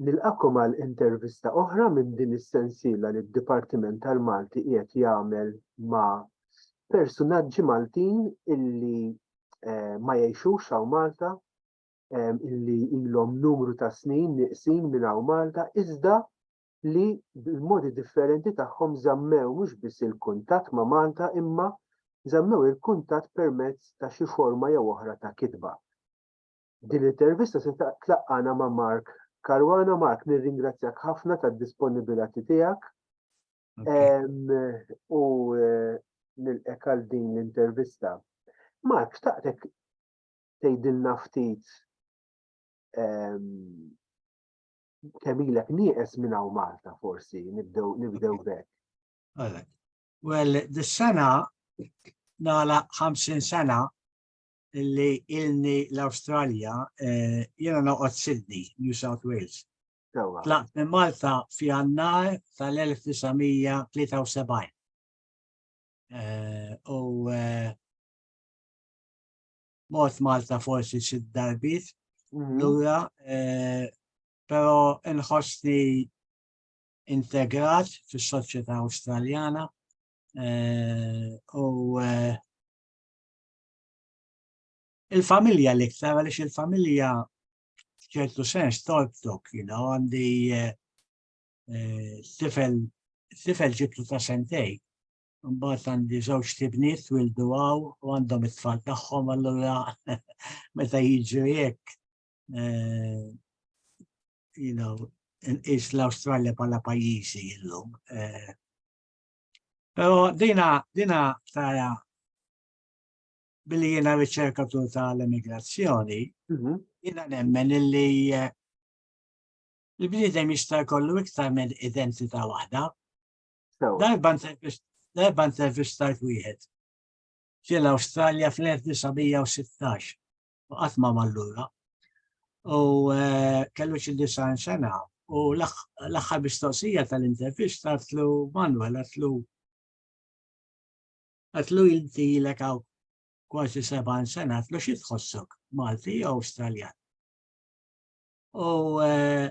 Nilqakom għal intervista oħra minn din is-sensiela li d-Dipartiment tal-Malti qiegħed jagħmel ma' persunaġġi Maltin illi eh, ma jgħixux hawn Malta, eh, illi ilhom numru ta' snin nieqsin minn hawn Malta, iżda li bil-modi differenti tagħhom żammew mhux biss il-kuntatt ma' Malta imma żammew il-kuntatt permezz ta' xi forma jew oħra ta' kitba. Din l-intervista se tlaqqana ma' Mark Caruana. Mark, nirringrazzjak ħafna tad-disponibilati tiegħek u nilqek għal din l-intervista. Mark, xtaqtek tgħidilna ftit kemm ilek nieqes minn hawn Malta forsi nibdew nibdew bek. Għalek. Well, dis-sena nala 50 sena li ilni l-Awstralja eh, jiena noqgħod Sydney, New South Wales. Tlaqt minn Malta fi għannar tal-1973. Eh, u eh, mort Malta forsi xi darbit mhm. lura, eh, però inħossni integrat fis-soċjetà Awstraljana eh, u eh, il-familja l-iktar għaliex il-familja ċertu sens torbtok, you know, għandi tifel tifel ġibtu ta' sentej Mbagħad għandi żewġ tibniet twildu għaw u għandhom it-tfal tagħhom allura meta jiġu jekk eh, you know, is l-Awstralja bħala pajjiżi illum. Eh. Però dina dina tara billi jiena riċerkatur tal-immigrazzjoni, mhm. jiena nemmen illi eh, il-bniedem jista' jkollu iktar minn identità waħda. Darba intervistajt wieħed ġiel Awstralja fl-1916 u qatt ma mallura u eh, kellu xi disan sena u l-aħħar mistoqsija tal-intervista għatlu Manuel għatlu għatlu inti l għaw kważi 70 sena għatlu xi tħossok Malti jew Awstraljan. U eh,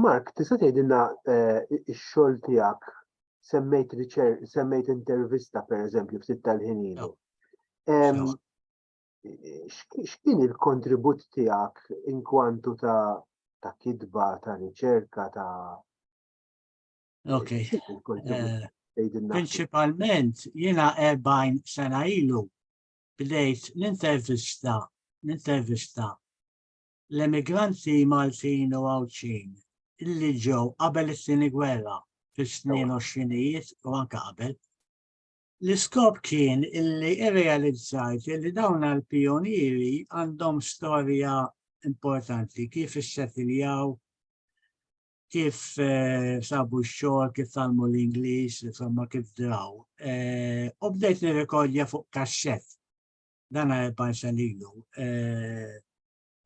Mark, tista' tgħidilna x-xogħol tiegħek semmejt semmejt intervista pereżempju ftit tal-ħin ilu. X'kien il-kontribut tiegħek inkwantu ta' ta' kitba, ta' riċerka, ta' Ok. Eh, Principalment, jiena 40 sena ilu bdejt l-intervista, l-intervista l-emigranti Maltin u Għawdxin li ġew qabel it-Tieni Gwerra fis-snin għoxrinijiet u anke qabel. L-iskop kien illi irrealizzajt li dawn għal-pionieri għandhom storja importanti kif issetiljaw, kif eh, sabu x-xogħol, kif talmu l-Ingliż, insomma kif draw. Eh, u bdejt nirrekordja fuq kaxxett dan erba' sen ilu.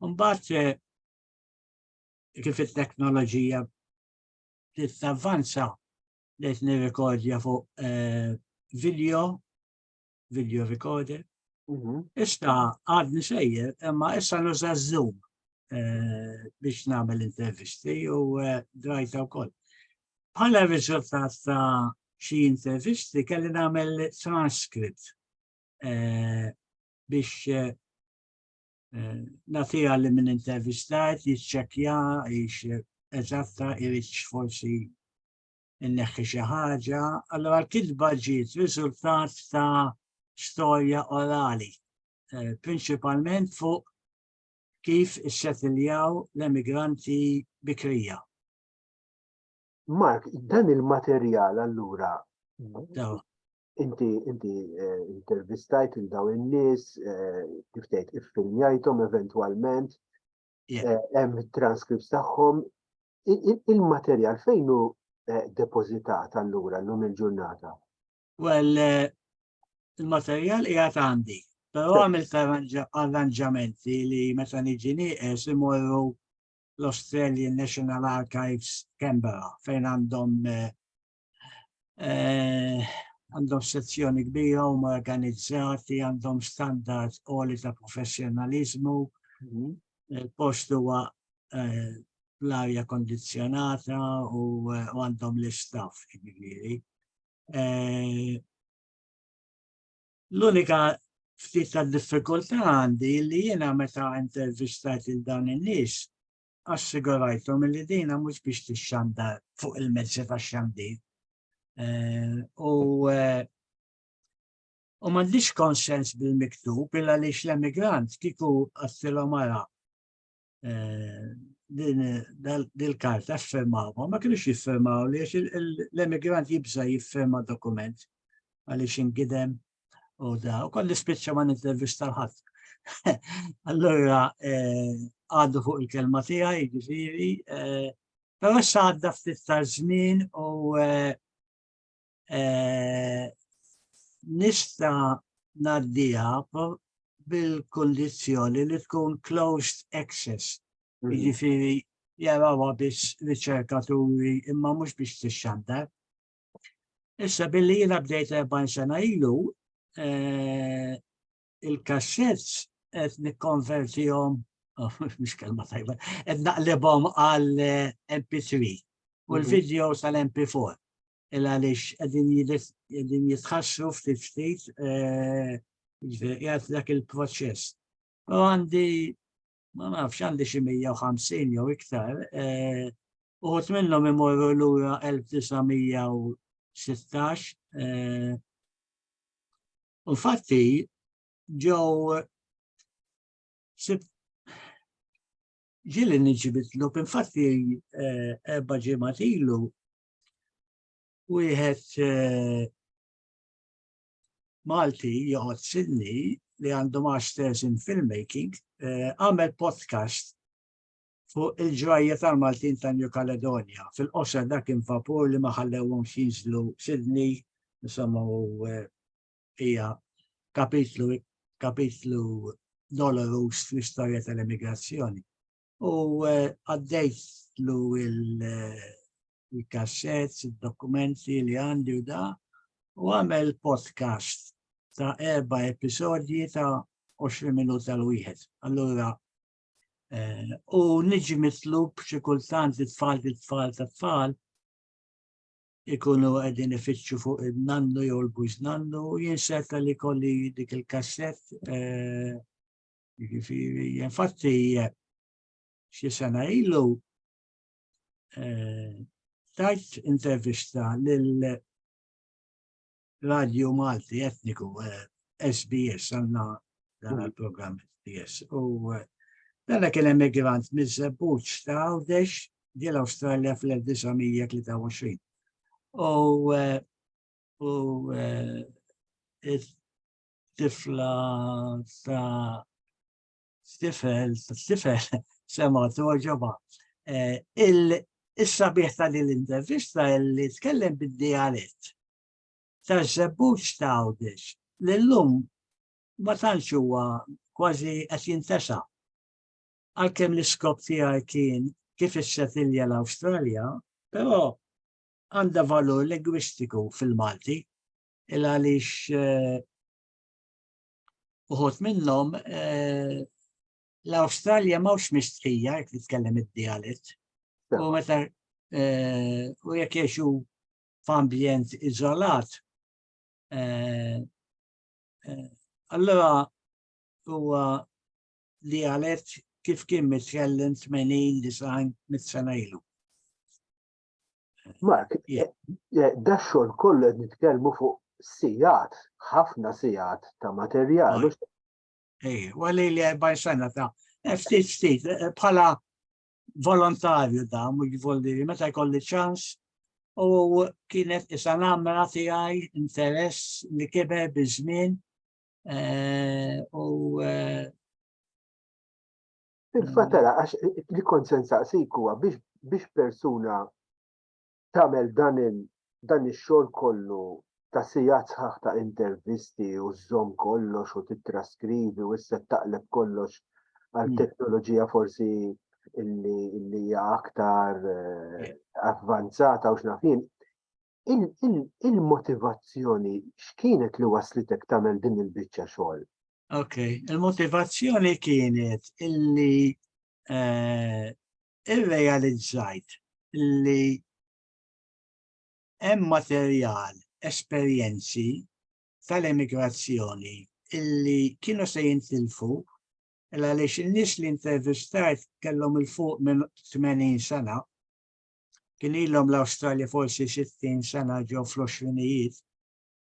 Mbagħad kif it-teknoloġija tavvanza qed nirrekordja fuq eh, video, video recorder. Mhm. Issa għadni sejjer, imma issa nuża Zoom eh, biex nagħmel intervisti u eh, drajta wkoll. Bħala riżultat ta' xi intervisti kelli nagħmel transkript biex natija li minn intervistajt jitċekja jiex eżatta irriċ forsi inneħħi xi ħaġa, allora l-kitba ġiet riżultat ta' storja orali, eh, prinċipalment fuq kif issetiljaw l-emigranti bikrija. Mark, dan il-materjal allura Inti inti eh, intervistajt il daw in-nies, eh, kif tgħid iffilmjajthom eventwalment, eh, hemm transcripts tagħhom. Il-materjal fejn hu depożitat allura llum il-ġurnata? Well, il-materjal qiegħed għandi, però għamilt arranġamenti li meta niġi nieqes imorru l-Australian National Archives Canberra fejn għandhom eh, għandhom sezzjoni kbira u organizzati, għandhom standard għoli ta' professjonalizmu, mhm. eh, post huwa eh, l-arja kondizjonata eh, u għandhom l-istaff ġifieri. L-unika ftit ta' diffikultà għandi li jiena meta intervistajt il-dawn in-nies Assigurajthom li dina mhux biex tixxandar fuq il-mezzi tax-xandir. Eh, u eh, u m'għandix konsens bil-miktub illa li l-emigrant kiku għattilhom ara eh, dil-karta firmawhom, ma kienux jiffirmaw li l-emigrant jibża jiffirma dokument għaliex ingidem U da, u kolli spiċċa ma nintervista l-ħadd. Allura eh, għaddu fuq il-kelma tiegħi, ġifieri, eh, però issa għadda ftit ta' żmien u eh, nista naddiha bil-kondizjoni li tkun closed access. Mm. Jiġifieri jarawa biss riċerkaturi imma mhux biex tixxandar. Issa billi jiena bdejt 40 sena ilu, eh, il-kassets qed nikkonvertihom oh, mhux kelma tajba, qed naqlibhom għal eh, MP3 u mhm. l-videos għal MP4 il għaliex qegħdin jitħassru ftit ftit eh, jgħat dak il-proċess. U għandi ma nafx għandi xi 150 jew iktar, eh, uħut minnhom imorru lura 1916. Eh, u fatti ġew ġili nġibitlu, infatti eh, ebba ġimatilu, wieħed Malti joqgħod Sydney li għandu masters in filmmaking eh, għamel podcast fuq il-ġrajja tal-Maltin ta' New Caledonia. Fil-qosra dak infapur li ma ħallewhom xinżlu Sydney, insomma u eh, hija kapitlu kapitlu dolorus fl-istorja tal-emigrazzjoni. u eh, għaddejt lu eh, il-kasset, il-dokumenti li għandi u da, u għamel podcast ta' erba episodji ta' 20 minut tal wieħed Allura, eh, u niġi mitlub xi kultant it-tfal it-tfal ta' tfal ikunu għedin ifittxu fuq il-nannu jew l-bujz nannu, jinsetta li kolli dik il-kasset eh, Jiġifieri, infatti, xi sena ilu eh, tajt intervista lil Radio Malti Etniku SBS eh, għandna dan mm. il-programm SBS u eh, dan kien emigrant miż-żebbuġ ta' Għawdex ġiel Awstralja fl-1923. U u tifla ta' stifel, stifel, sema toġoba. Eh, il-sabiħ ta' din l-intervista li tkellem bid-dialett ta' zebbuċ ta' għawdex l-lum ma tantx huwa kważi qed jintesa. Għalkemm l-iskop tiegħi kien kif issetilja l-Awstralja, però għandha valur lingwistiku fil-Malti il għaliex eh, uħut minnhom eh, l-Awstralja mawx mistrija jekk nitkellem id-dialett. U meta eh, u jekk jiexu f'ambjent iżolat, allora huwa dialett kif kien mitkellem 80 design mit-sena ilu. Mark, da xogħol kollu qed nitkellmu fuq sigħat, ħafna sigħat ta' materjal. Ej, għalli li għajbaj sena ta' ftit ftit eh, bħala volontarju da, mux volli, meta jkolli ċans u kienet isa namra tiegħi interess li kiber bizmin eh, u eh, Il-fatala, għax li kont sensaqsik huwa biex persuna tagħmel dan dan ix-xogħol kollu ta' sigħat sħaħ ta' intervisti u żżomm kollox u titraskrivi u issa taqleb kollox għal hmm. teknoloġija forsi li hija aktar eh, avvanzata u x'nafin. il-motivazzjoni x'kienet li waslitek tagħmel din il-biċċa xogħol? Ok, il-motivazzjoni kienet illi eh, irrealizzajt illi hemm materjal, esperjenzi tal-emigrazzjoni illi kienu se jintilfu għaliex in-nies li intervistajt kellhom il-fuq minn 80 sena kien ilhom l-Awstralja forsi 60 sena ġew fl-20ijiet,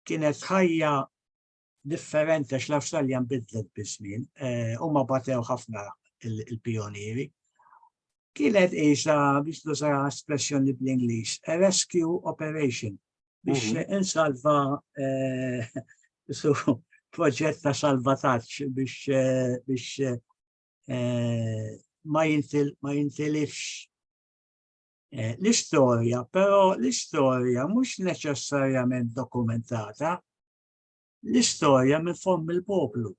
kienet ħajja differenti għax l-Awstralja nbidlet biż-żmien, eh, huma batew ħafna il-pionieri. Kienet isa biex tuża espressjoni bl-Ingliż, a rescue operation biex mhm. insalva eh, proġett ta' salvataġġ biex eh, biex ma jintilifx Eh, l-istorja, però l-istorja mhux neċessarjament dokumentata, l-istorja minn form il-poplu.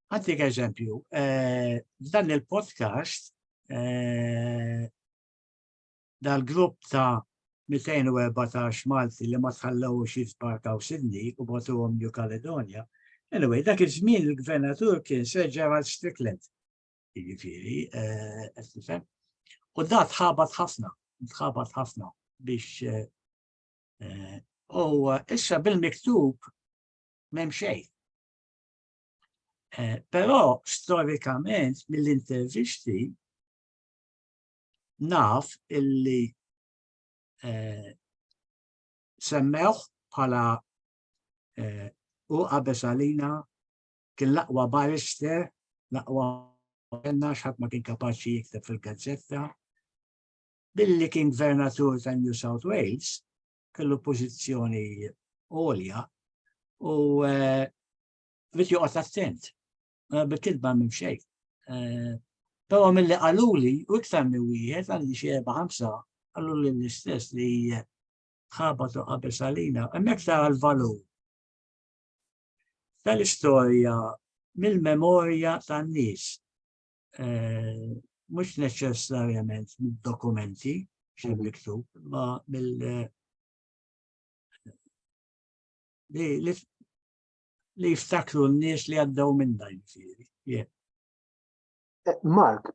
Għantik eżempju, eh, dan il-podcast eh, dal-grupp ta' 214 Malti li ma tħallew xi sbarkaw Sydney u botuhom New Caledonia. Anyway, dak iż-żmien il-gvernatur kien Sir Gerald Strickland. jiġifieri, eh, qed tifhem. U da tħabat ħafna, tħabat ħafna biex eh, eh, u issa bil-miktub m'hemm xejn. Però storikament mill-intervisti naf illi semmewh bħala u qabesalina kien l-aqwa barrister, l-aqwa għenna xħat ma kien kapaċi jikteb fil-gazzetta. Billi kien gvernatur ta' New South Wales, kellu pozizjoni għolja u eh, bit joqgħod attent, eh, bil-kidba minn xejn. Eh, però mill-li għaluli, u iktar minn wieħed għandi xi erba' ħamsa, għaluli l-istess li ħabatu qabel salina, hemmhekk tara l-valur tal-istorja mill-memorja tan-nies, eh, mhux neċessarjament mid-dokumenti xi mhm. miktub, ma mill eh, li jiftakru n-nies li għaddew minn dan jiġifieri. Eh, Mark,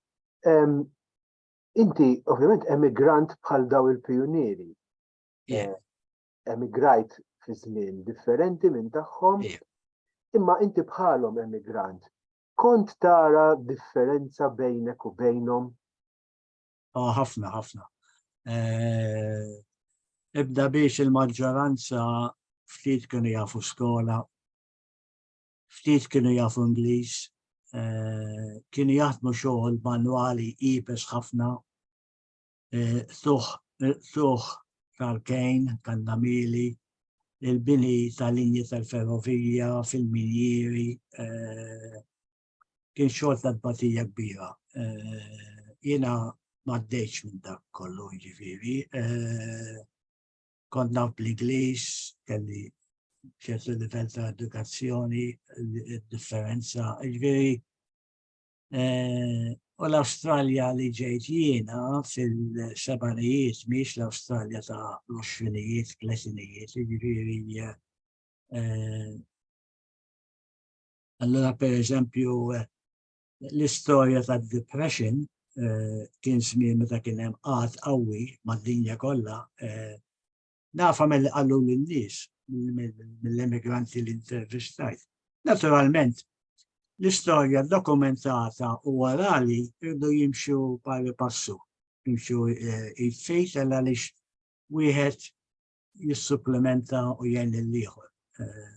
inti ovvjament emigrant bħal daw il-pioniri. emigrajt fi żmien differenti minn tagħhom, imma inti bħalhom emigrant, kont tara differenza bejnek u bejnhom? Ah, ħafna, ħafna. Eh, ibda biex il-maġġoranza ftit kienu jafu skola, ftit kienu jafu Ingliż, eh, kienu jaħdmu xogħol manwali ibes ħafna, eh, suħ suħ tal-kejn, tal-namili, il-bini tal-linji tal-ferrovija, fil-minjiri, eh, kien xogħol ta' tbatija kbira. Eh, jiena m'għaddejx minn dak kollu ġifieri. Eh, kont naf bl-Ingliż, kelli ċertu livell ta' edukazzjoni, differenza, ġifieri U l-Awstralja li ġejt jiena fil-sebanijiet miex l-Awstralja ta' l-oxfinijiet, tletinijiet, jiġifieri eh, Allora per eżempju eh, l-istorja ta' depression eh, kien żmien meta kien hemm qat qawwi mad-dinja kollha Nafa mill qallu l-nies, mill-emigranti li intervistajt. Naturalment, l-istorja dokumentata u orali irdu jimxu pari passu, jimxu eh, jitfejt għal għalix wieħed jissupplementa u jgħin l-liħor. Eh,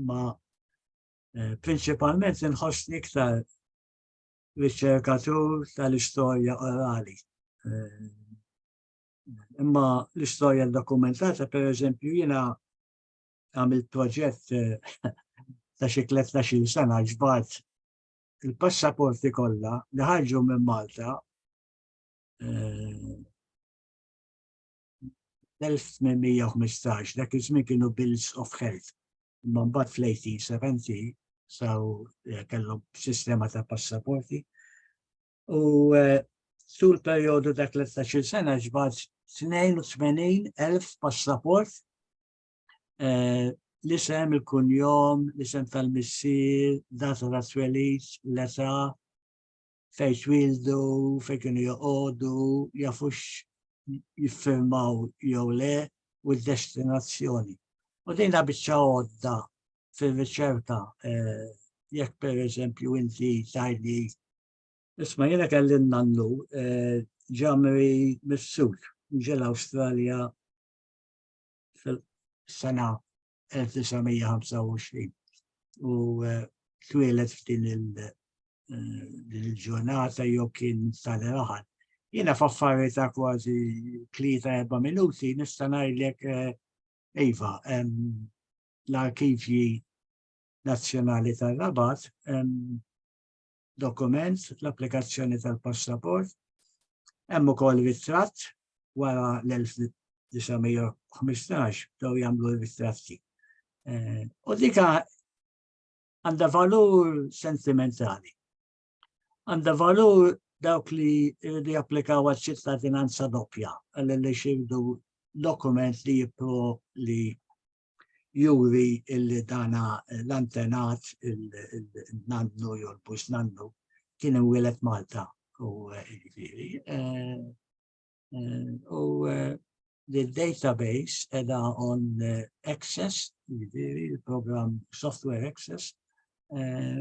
ma eh, principalment nħossni iktar riċerkatur tal-istorja orali. Imma l-istorja dokumentata, per eżempju, jina għamil proġett ta' xi 13 sena ġbart il-passaporti kollha li ħarġu minn Malta 1815 dak iż-żmien kienu bills of health. Imma mbagħad fl-1870 saw eh, kellhom sistema ta' passaporti. u eh, tul perjodu ta' 13 sena ġbad 82,000 passaport eh, l-isem, il-kunjom, l-isem tal-missir, data ta' twelit, l-età, fej twildu, fej kienu joqodu, jafux jiffirmaw jew le u d-destinazzjoni. U dejna biċċa għodda fil-riċerka eh, jekk per eżempju inti tajli Isma' jiena kelli n-nannu ġamri mis-sud, ġie l-Awstralja fil-sena 1925 u twieled f'din il-ġurnata jew kien sali raħal. Jiena f'affari ta' kważi tlieta erba' minuti nista' ngħidlek iva l-arkivji nazzjonali tar-Rabat dokument, l-applikazzjoni tal-passaport, hemm ukoll ritratt wara l-1915 bdew jagħmlu ritratti. Eh, u dika għandha valur sentimentali. Għandha valur dawk li jridu japplikaw għal ċittadinanza doppja, għal li xirdu dokument li jipro li juri illi dana l-antenat il-nannu jew l-bus nannu kien imwielet Malta u ġifieri. Eh, eh, u eh, li database edha on access, ġifieri il-programm software access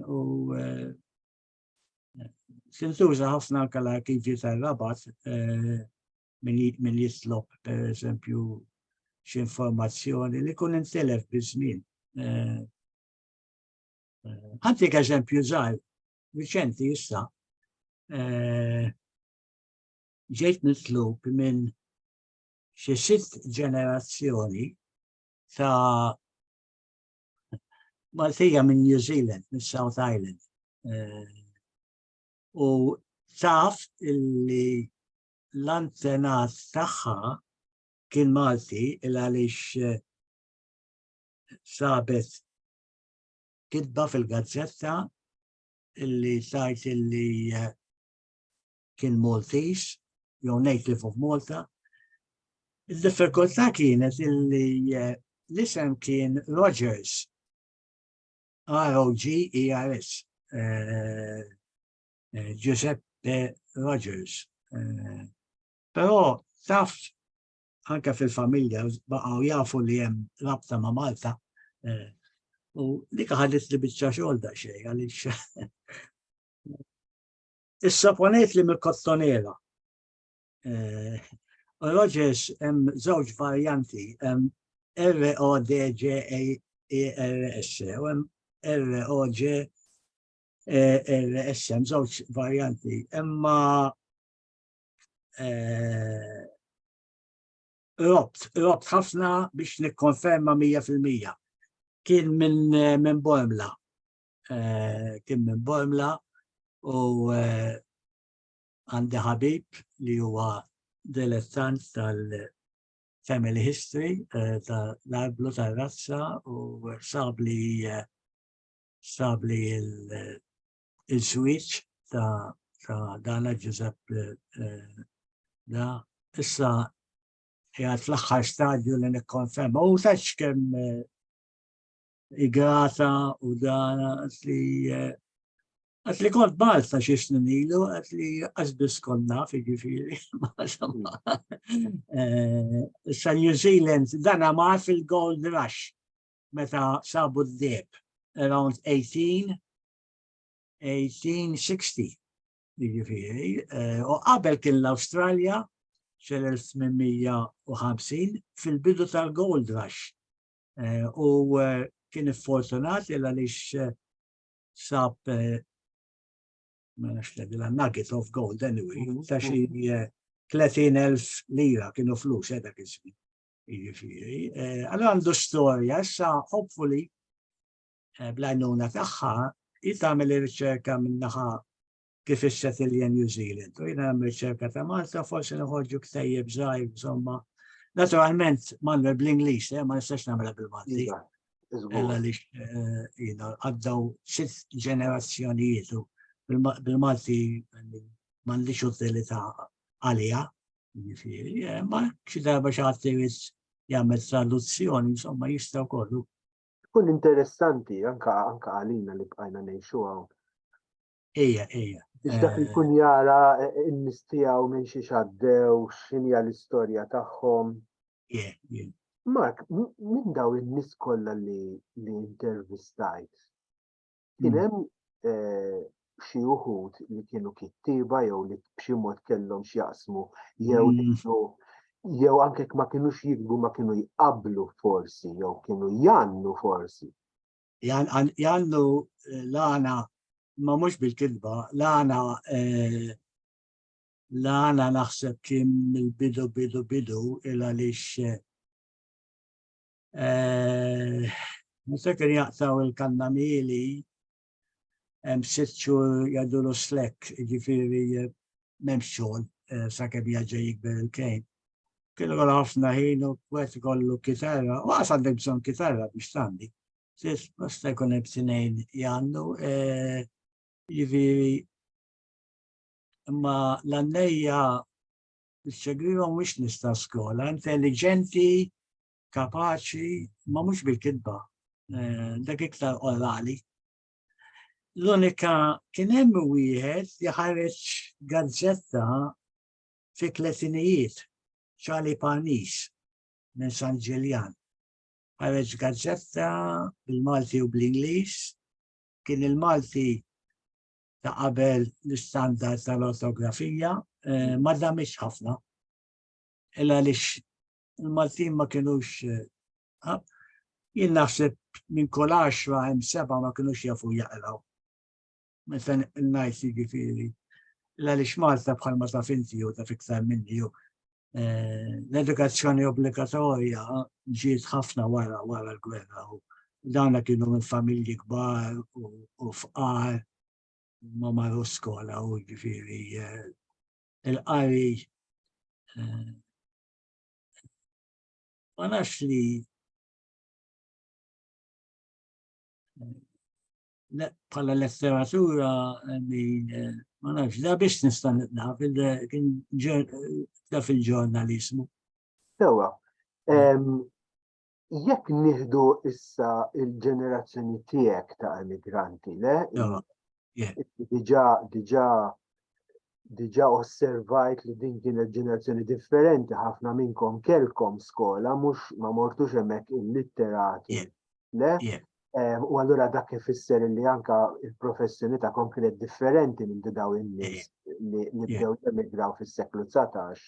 u sintuża ħafna anke l-arkivji tal-rabat min jitlob per eżempju x'informazzjoni li kun intilef biż-żmien. Eh, eh, Għantik eżempju żgħar, Viċenti issa eh, ġejt nitlub minn xi sitt ġenerazzjoni ta' Maltija minn New Zealand, minn South Island. U taf illi l-antenat tagħha kien Malti il għaliex eh, sabet kitba fil-gazzetta illi sajt illi eh, kien Maltese, jew native of Malta. Il-diffikultà kienet illi eh, l-isem kien Rogers, R-O-G-E-R-S. eh, Giuseppe Rogers. Eh, però taf anke fil-familja baqgħu jafu li hemm rabta ma' Malta. Eh, u dik ħadet li biċċa xogħol da xejn għaliex. Issa ponejt li mill-kottonera. Rogers hemm żewġ varjanti, R-O-D-G-A-R-S, e u hemm R-O-G il-SM, żewġ varjanti, imma eh, robt, robt ħafna biex nikkonferma 100%. Kien minn min Bormla, eh, kien minn Bormla u eh, għandi ħabib li huwa dilettant tal-family history tal-arblu tal-razza u sabli stabli il-switch ta' ta' dana Ġużepp eh, eh, da issa jgħat fl-axħar stadju li nikkonferma. U taċ kem eh, igrata u dana li għat li kont balt ta' xie snin ilu, għat li għazbis konna fi ġifiri. Issa New Zealand dana ma' fil-Gold Rush meta sabu d-deb around 18 1860 jiġifieri eh, u qabel kien l-Awstralja fil-1850 fil-bidu tal-Gold Rush eh, u eh, kien fortunat il għaliex sab ma nafx l nugget of gold anyway, mhm. ta' xi 30.000 lira kienu flus edha kisbi. Jiġifieri, eh, allora għandu storja, issa hopefully eh, bl-għajnuna tagħha jien tagħmel ir-riċerka minnaħa kif isset il-jen New Zealand. U jina għam riċerka ta' Malta, forse nħorġu ktajjeb zaħir, insomma. Naturalment, manna bl-Inglis, eh, ma nistax namela bil-Malti. Ella li eh, jina għaddaw sitt ġenerazzjonijiet bil-Malti mandiċ utilita għalija, Jiġifieri, eh, ma xi darba xi ħadd irid jagħmel traduzzjoni, insomma jista' kollu. Tkun interessanti anka anka għalina li bqajna ngħixu hawn. Ejja, ejja. Biex dak eh, ikun jara eh, in-nies tiegħu minn xi xaddew, x'inja l-istorja tagħhom. Mark, minn daw in-nies kollha li intervistajt, Kien mm. hemm eh, xi uħud li kienu kittiba jew li b'xi mod kellhom x'jaqsmu jew mm. jew anke ma kienux jikbu ma kienu jqablu forsi jew kienu jannu forsi. Jannu eh, l-għana ma mhux bil-kilba, l-għana eh, l-għana naħseb kien mill-bidu bidu bidu il għaliex Eh, Niftakar jaqtaw il-kanna mili, hemm sitt xhur jadulu slek, ġifieri eh, m'hemmx xogħol eh, sakemm jaġa jikber il-kejn. Kienu kollha ħafna ħin u kwet kollu kitarra, u għas għandek bżonn kitarra biex tandi. Sis, basta jkun hemm tnejn jgħandu, eh, ġifieri imma l-annejja Mr. Grima mhux nista' skola, intelligenti, kapaċi, ma mhux bil-kitba, eh, dak iktar orali. L-unika kien hemm wieħed li ħareġ gazzetta fi tletinijiet, ċali Panis minn San Ġiljan. Ħareġ gazzetta bil-Malti u bl-Ingliż, kien il-Malti ta' qabel l-istandard tal-ortografija eh, ma damiex ħafna. Illa lix il-Maltin ma kienux eh, jien naħseb minn kol 10 hemm seba ma kienux jafu jaqraw. Meta ngħid jiġifieri illa lix Malta bħalma ta' finti u ta' fiktar minni u eh, l-edukazzjoni obbligatorja ġiet ħafna wara wara l-gwerra u dawna kienu minn familji kbar u fqar ma marru skola u ġifiri eh, il-qari eh, ma nafx li bħala letteratura eh, ma nafx da biex nista' naf kien da fil-ġurnalizmu. Sewa. Jekk nieħdu issa il-ġenerazzjoni tiegħek ta' emigranti, le? Diġà diġà diġa osservajt li din kienet ġenerazzjoni differenti ħafna minnkom kelkom skola mhux ma mortux hemmhekk illitterati. Le? Eh, u allura dak ifisser li anka il-professjoni ta' konkret differenti minn daw in-nies li bdew jemigraw fis-seklu 19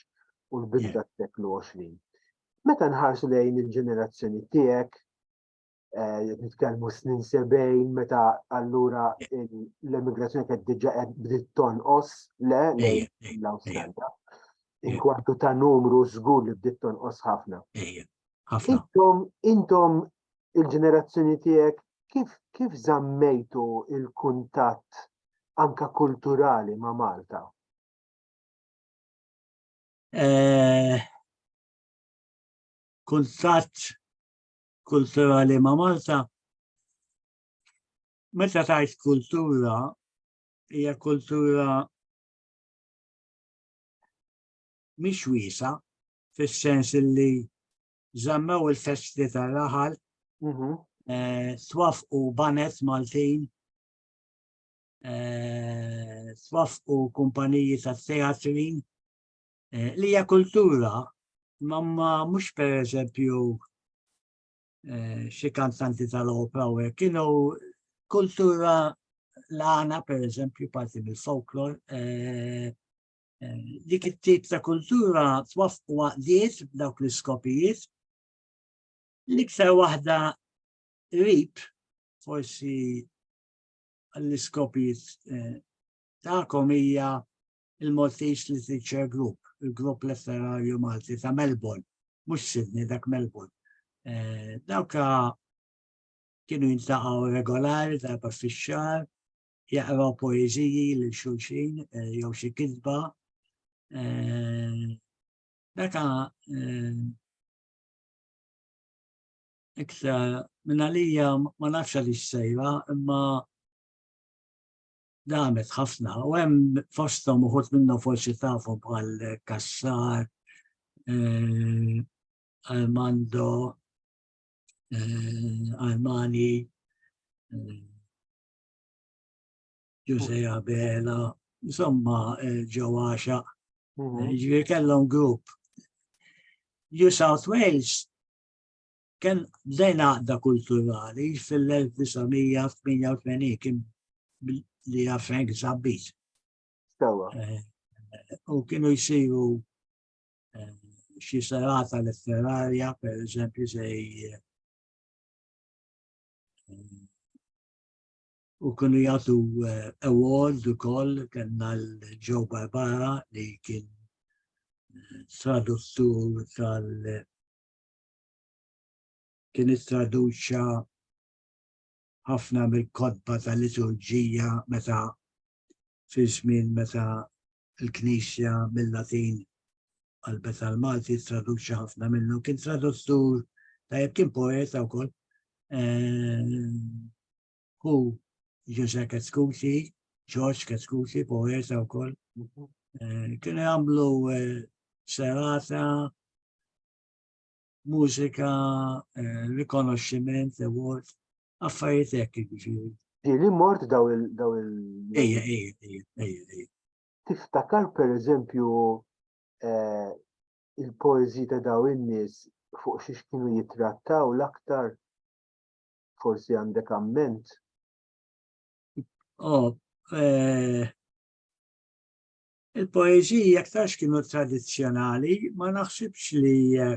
u l-bidu tas-seklu 20. Meta nħarsu lejn il-ġenerazzjoni tiegħek, eh, nitkellmu snin 70 meta allura l-emigrazzjoni kienet diġà qed bdiet tonqos le lejn l-Awstralja. Inkwantu ta' numru żgur li bdiet tonqos ħafna. Ħafna. Intom, intom il-ġenerazzjoni tiegħek kif kif żammejtu il-kuntatt anka kulturali ma' Malta? Eh, kuntatt kulturali ma' Malta meta tajt kultura hija kultura mhix wiesa, fis-sens li żammew il-festi tar-raħal, mhm. eh, twafqu banet Maltin, eh, twafqu kumpaniji ta' teatri, eh, li hija kultura, ma mhux per eżempju xi kantanti tal-opra u kienu kultura l-għana per eżempju parti mill-folklor dik it-tip ta' kultura twaffqu għaqdiet b'dawk l-iskopijiet. L-iktar waħda rib, forsi l-iskopijiet eh, ta'kom hija il-Maltese Literature Group, il-grupp letterarju Malti ta' Melbourne, mhux Sydney dak Melbourne. Eh, dawka kienu jintaqgħu regolari darba fix-xahar jaqraw poeżiji lil xulxin eh, jew xi kitba. Eh, meta eh, iktar minn għalija ma nafx li sejra imma damet ħafna u hemm fosthom uħud minnu forsi tafu bħal Kassar, Armando, Armani, Ġuże Abela, insomma eh, ġewaxa. Mhm. Eh, ġifieri kellhom grupp. New South Wales kien lejn għaqda kulturali fil-1988 kien li għafenk zabbit. Eh, u kienu jisiru xi serata letterarja, per eżempju, zej U kienu jagħtu eh, award ukoll kellna l-Joe Barbara li kien eh, traduttur tal kien traduċa ħafna mill-kodba tal-liturġija meta fi żmien meta l-Knisja mil-Latin qalbet għall-Malti traduċi ħafna minnu. Kien traduttur tajjeb kien poeta wkoll. Hu Ġuża Katskuti, Ġorġ Katskuti, poeta wkoll. Kien għamlu serata mużika, rikonoxximent, award affarijiet hekk jiġifieri. Li mort daw il daw il Ejja, ejja, ejja, ejja, ejja. Tiftakar pereżempju eh, il-poeżi ta' daw in-nies fuq xiex kienu jitrattaw l-aktar forsi għandek amment. Oh, eh, il-poeziji aktarx kienu tradizjonali, ma naħsibx li eh,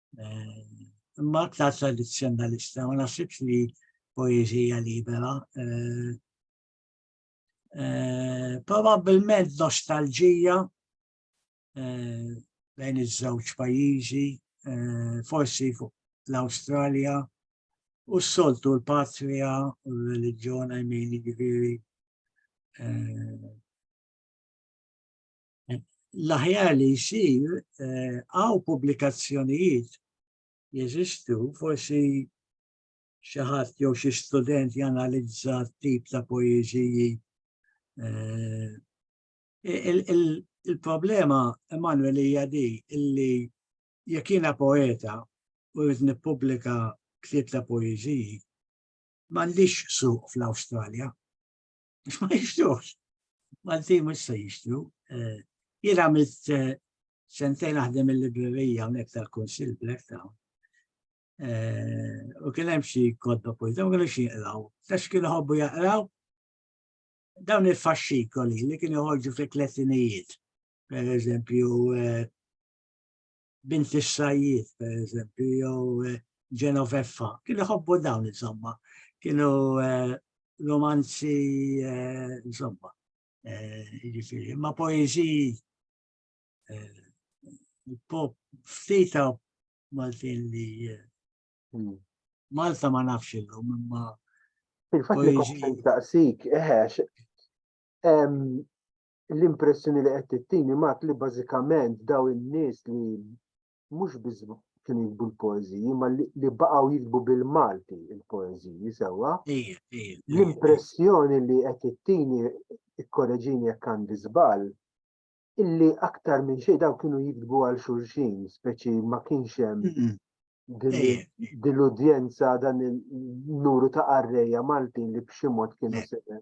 eh, imma aktar tradizzjonalista, ma nasibx li poezija libera. Eh, eh, Probabilment nostalġija bejn iż-żewġ pajjiżi, forsi fuq l-Awstralja, u s-soltu l-patria u l-reliġjon għajmini ġviri l-aħjar li jsir eh, għaw pubblikazzjonijiet jeżistu, forsi xi ħadd jew xi student janalizza tip ta' poeżiji. Eh, il-problema, Emanuel, hija di illi jekk jiena poeta u rrid nippubblika ktieb ta' poeżiji, m'għandix suq fl-Awstralja. Ma jixtrux. Malti mux se jixtru. Eh, jien għamilt eh, sentejn naħdem il-librerija unek tal-Konsil Black Town. Eh, u kien hemm xi kodba poi, dawn kienu xi jaqraw. Tax kienu ħobbu jaqraw dawn il-faxxikoli li kienu ħorġu fi klettinijiet. Per eżempju, bint is-sajjied pereżempju jew eh, Genoveffa, kien iħobbu dawn insomma, kienu eh, romanzi eh, insomma, jiġifieri, ma poeżiji pop ftita Maltin li hmm. Malta ma nafx illum imma Fil-fatt li daqsik, eħex, l-impressjoni li qed tittini mat li bażikament daw in-nies li mhux biss kienu jikbu l-poeżiji, ma li baqgħu jikbu bil-Malti il-poeżiji sewwa. L-impressjoni li qed tittini ikkoreġini jekk għandi żball, illi aktar minn xejn daw kienu jikbu għal xulxin, speċi ma kienx hemm din l-udjenza dan il-nuru ta' arreja Maltin li b'xi mod kienu sejjer.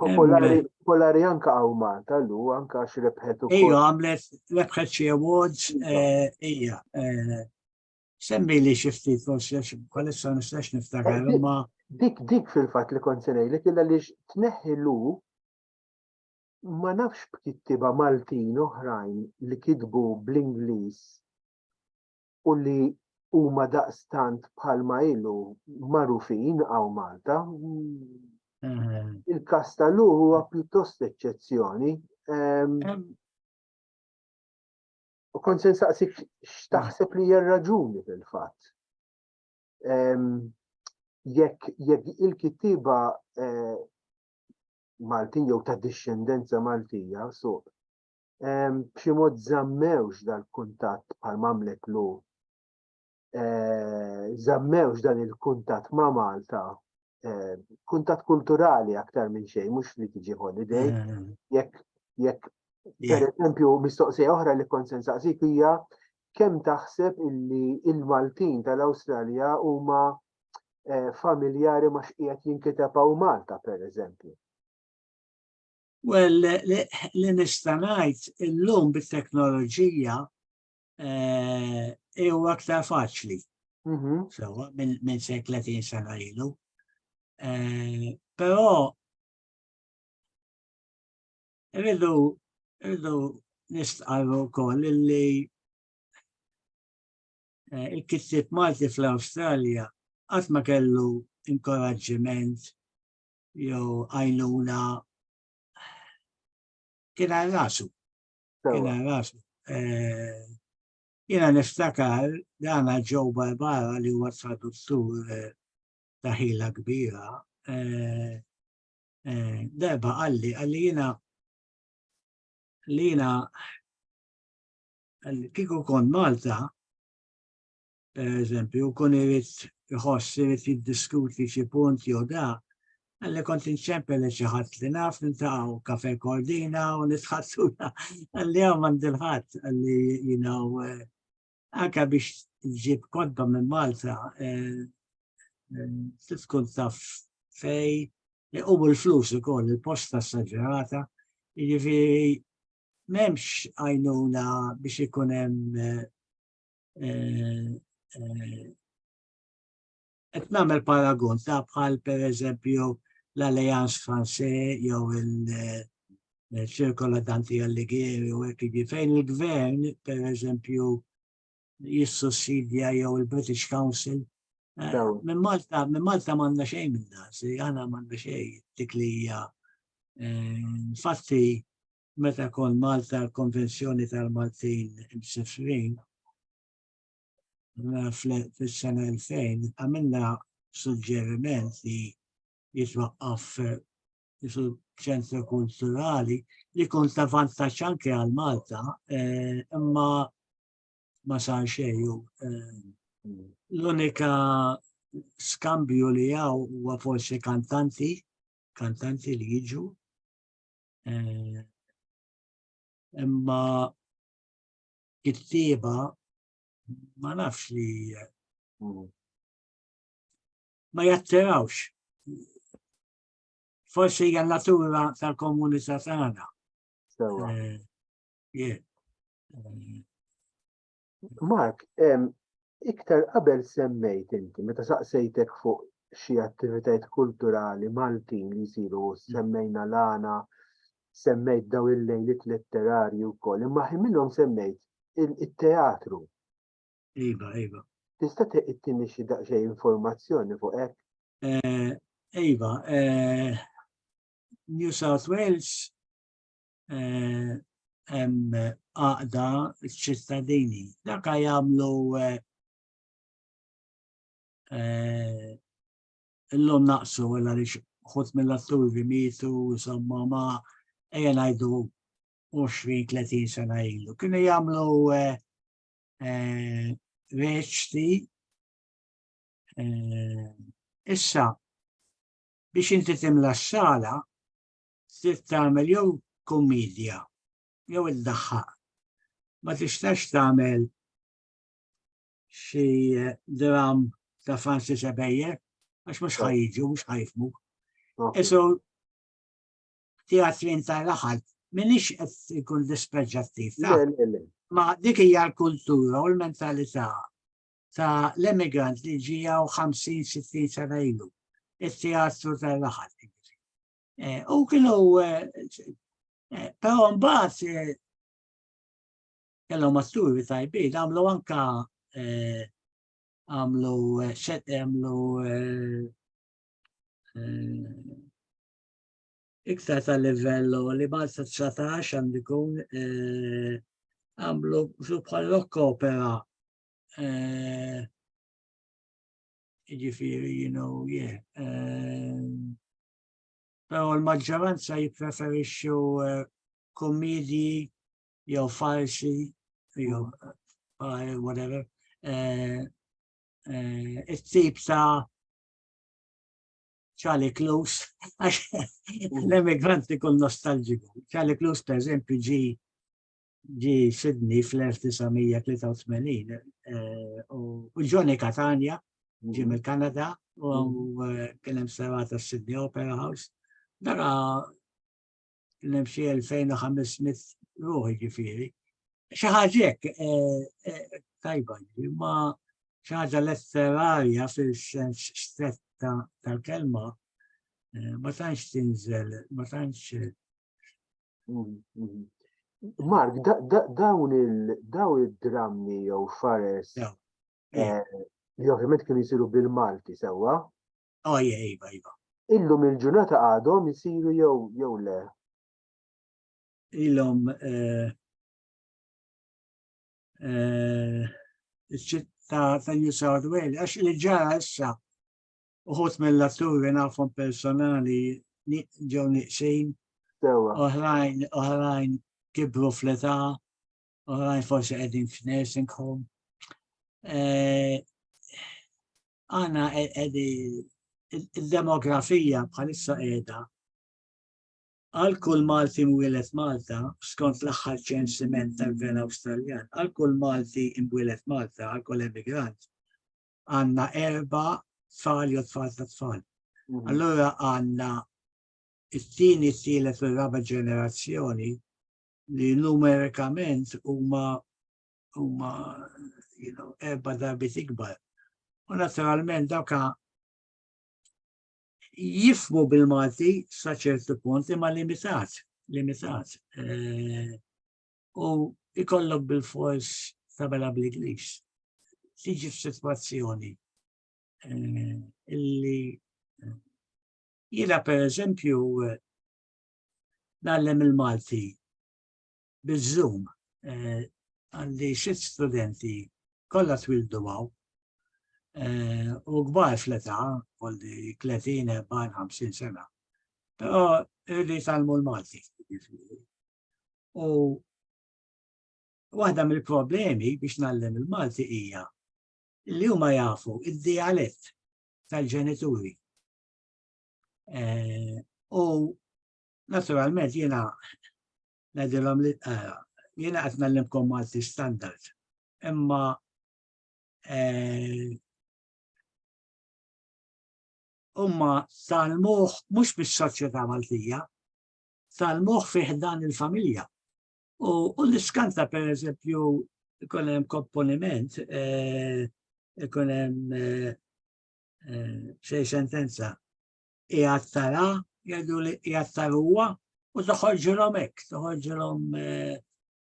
Popolari, popolari anka għaw Malta, lu, anka għax rebħet u. Ija, għamlet rebħet xie awards, eh, ija. Eh, semmi li xifti, forse, bħalissa nistax niftakar, eh, ma. Dik, dik fil-fat li konsenej li killa li tneħi lu ma nafx b'kittiba Maltin oħrajn li kitbu bl-Inglis u li huma daqstant bħalma ilu magħrufin hawn Malta. Mhm. Il-każ ta' Lu huwa pjuttost eċċezzjoni. Ehm, ehm. U kont se nsaqsik x'taħseb li hija raġuni fil-fatt. Ehm, jekk jekk il-kittiba eh, Maltin jew ta' dixxendenza Maltija suq b'xi mod żammewx dal-kuntatt bħal mamlet lu żammewx dan il-kuntatt ma' Malta kuntatt kulturali aktar minn xejn mhux li tiġi holiday jekk jekk per eżempju mistoqsija oħra li kont se nsaqsik hija kemm taħseb illi il-Maltin tal-Awstralja huma familjari ma xqiegħed jinkiteb hawn Malta per eżempju. Well, li nista' ngħid illum bit-teknoloġija eh, huwa aktar faċli. Mhm. Sewa minn se 30 sena ilu. Eh, però rridu rridu nistqarru wkoll li eh, il-kittieb Malti fl-Awstralja qatt ma kellu inkoraġġiment jew għajnuna kien għal rasu. Kien għal rasu. Eh, Jena niftakar dana ġew Barbara li huwa traduttur eh, taħila kbira. Eh, eh, darba għalli, għalli jena li jena kiku kon Malta, per eżempju, kun irid iħoss irid jiddiskuti xi punt jew da, għalli kont inċempel li xi ħadd li naf nintaqgħu kafe kordina u nitħassuna għalli hawn m'għandilħadd għalli jinaw eh, anke biex ġib kodba minn Malta eh, eh, tkun taf fej li u l-flus ukoll il-posta s-saġerata, jiġifieri m'hemmx għajnuna biex ikun hemm qed nagħmel paragun ta' bħal pereżempju l-Allianz Franse jew il-Ċirkola Danti Allighieri u hekk jiġi fejn il-gvern pereżempju jissussidja jew il-British Council. Eh, minn Malta, minn Malta m'għandna xejn minn dan, si għana m'għandna xejn dik li hija. Eh, infatti, meta kont Malta l-Konvenzjoni tal-Maltin Msifrin fis-sena 2000 għamilna suġġeriment li jitwaqqaf ċentru kulturali li kont ta' vantaġġ anke għal Malta eh, imma ma sar xejn eh, l-unika skambju li għaw huwa forsi kantanti kantanti li jiġu Eh, imma kittieba ma nafx li mm. ma jattirawx. Forsi hija natura tal-komunità tagħna. Eh, eh, Mark, iktar qabel semmejt inti, meta saqsejtek fuq xi attivitajiet kulturali Maltin li jsiru semmejna l-għana, semmejt daw il-lejlit letterarji wkoll, imma ħin minnhom semmejt il-teatru. Iva, iva. Tista' tittini xi daqsxejn informazzjoni fuq hekk? Eh, iva, eh, New South Wales eh, hemm għaqda ċittadini. Dak jagħmlu eh, eh, illum naqsu għal għaliex ħut mill-atturi mitu, insomma ma ejja ngħidu 20-30 sena ilu. Kienu jagħmlu reċti issa biex inti timla s-sala trid tagħmel jew kummedja jew iddaħħaq. Ma tistax tagħmel xi eh, dram ta' Franzi Sebejjer għax mhux ħajġu, mhux ħajfmu. Isu teatrin ta' raħal, minix qed ikun dispreġġattiv. Ma dik hija l-kultura u l-mentalità ta' l-emigrant li ġijaw 50-60 sena ilu, il-teatru tal-raħal. Eh, u kienu, eh, pero mbaħt, eh, kellu masturi tajbi, għamlu anka għamlu xet għamlu iktar tal livello li ma' 19 għandu jkun għamlu bħal rock opera ġifiri, you know, yeah. Però l-maġġoranza jippreferixxu eh, kummedji jew farsi jew eh, whatever. Eh, it-tip ta' Charlie Klus, għax l-emigranti kun nostalġiku. Charlie Klus, per eżempju, ġi ġi Sydney fl-1983 eh, u Johnny Catania ġi mill-Kanada u eh, kien hemm serata Sydney Opera House. Dara kien hemm xi 2500 ruħi ġifieri. Xi ħaġa eh, tajba, ma xi ħaġa letterarja fil-sens stretta tal-kelma ma tantx tinżel, ma tantx Mark, dawn il-drammi jew fares eh, li ovvjament kienu jisiru bil-Malti sewwa. Oh, ah, yeah, iva, iva. Illum il-ġurnata għadhom jisiru jew jew le. Illum eh, eh, ta' New South Wales, għax li ġara issa Uħut mill-atturi nafhom personali ġew niqsin. Oħrajn, oħrajn kibru fl-età, oħrajn forsi qegħdin f'nursing home. Eh, għana qegħdi il-demografija bħalissa qiegħda għal kull Malti mwilet Malta, skont l-aħħar ċensiment tal-Gvern Awstraljan, għal kull Malti mwilet Malta, għal kull emigrant, għanna erba tfal jew tfal ta' tfal. Mhm. Allora għanna it-tieni, tielet u raba ġenerazzjoni li numerikament huma huma you know, erba darbi tikbar. U naturalment dawka jifmu bil-Malti sa ċertu punt imma limitat, limitat. Eh, u ikollok bil-fors tabela bl-Ingliż. Tiġi f'sitwazzjoni eh, illi eh, jiena per eżempju eh, nallem il-Malti bil-Zoom għandi xit studenti kollha twildu għaw u gbar fl-età għalli 30, 40, 50 sena. Però irrid għalmu l-Malti. U waħda mill-problemi biex nallem il-Malti hija li huma jafu id-dialett tal-ġenituri. Eh, u naturalment jiena ngħidilhom li eh, jiena qed nallimkom Malti standard. Imma eh, umma tal-muħ mux bis-soċjetà Maltija, tal-moħħ fi ħdan il-familja. U l-iskanta per eżempju ikun hemm komponiment, eh, ikun hemm eh, eh, xej sentenza qiegħed tara, jgħidu li qiegħed taruha u toħorġilhom hekk, toħorġilhom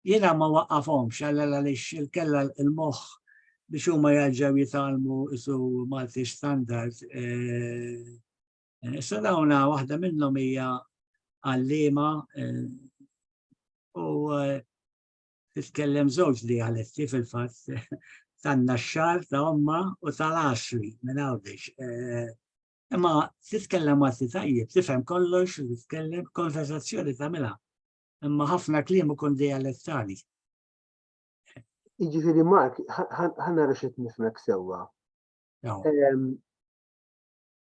jiena ma waqafhomx għal għaliex il-kella il-moħħ biex huma jarġgħu jitgħallmu isu Malti standard eh, Issa eh, dawna waħda minnhom hija għallima eh, u eh, titkellem żewġ li għaletti fil-fatt tan-naxxar ta' omma u tal-asri minn għawdex. Imma titkellem għati tajjeb, tifhem kollox, titkellem konversazzjoni ta' mela. Imma ħafna kliem ikun dialettali. Iġifiri Mark, ħanna rexet nifmek sewa. Ehm,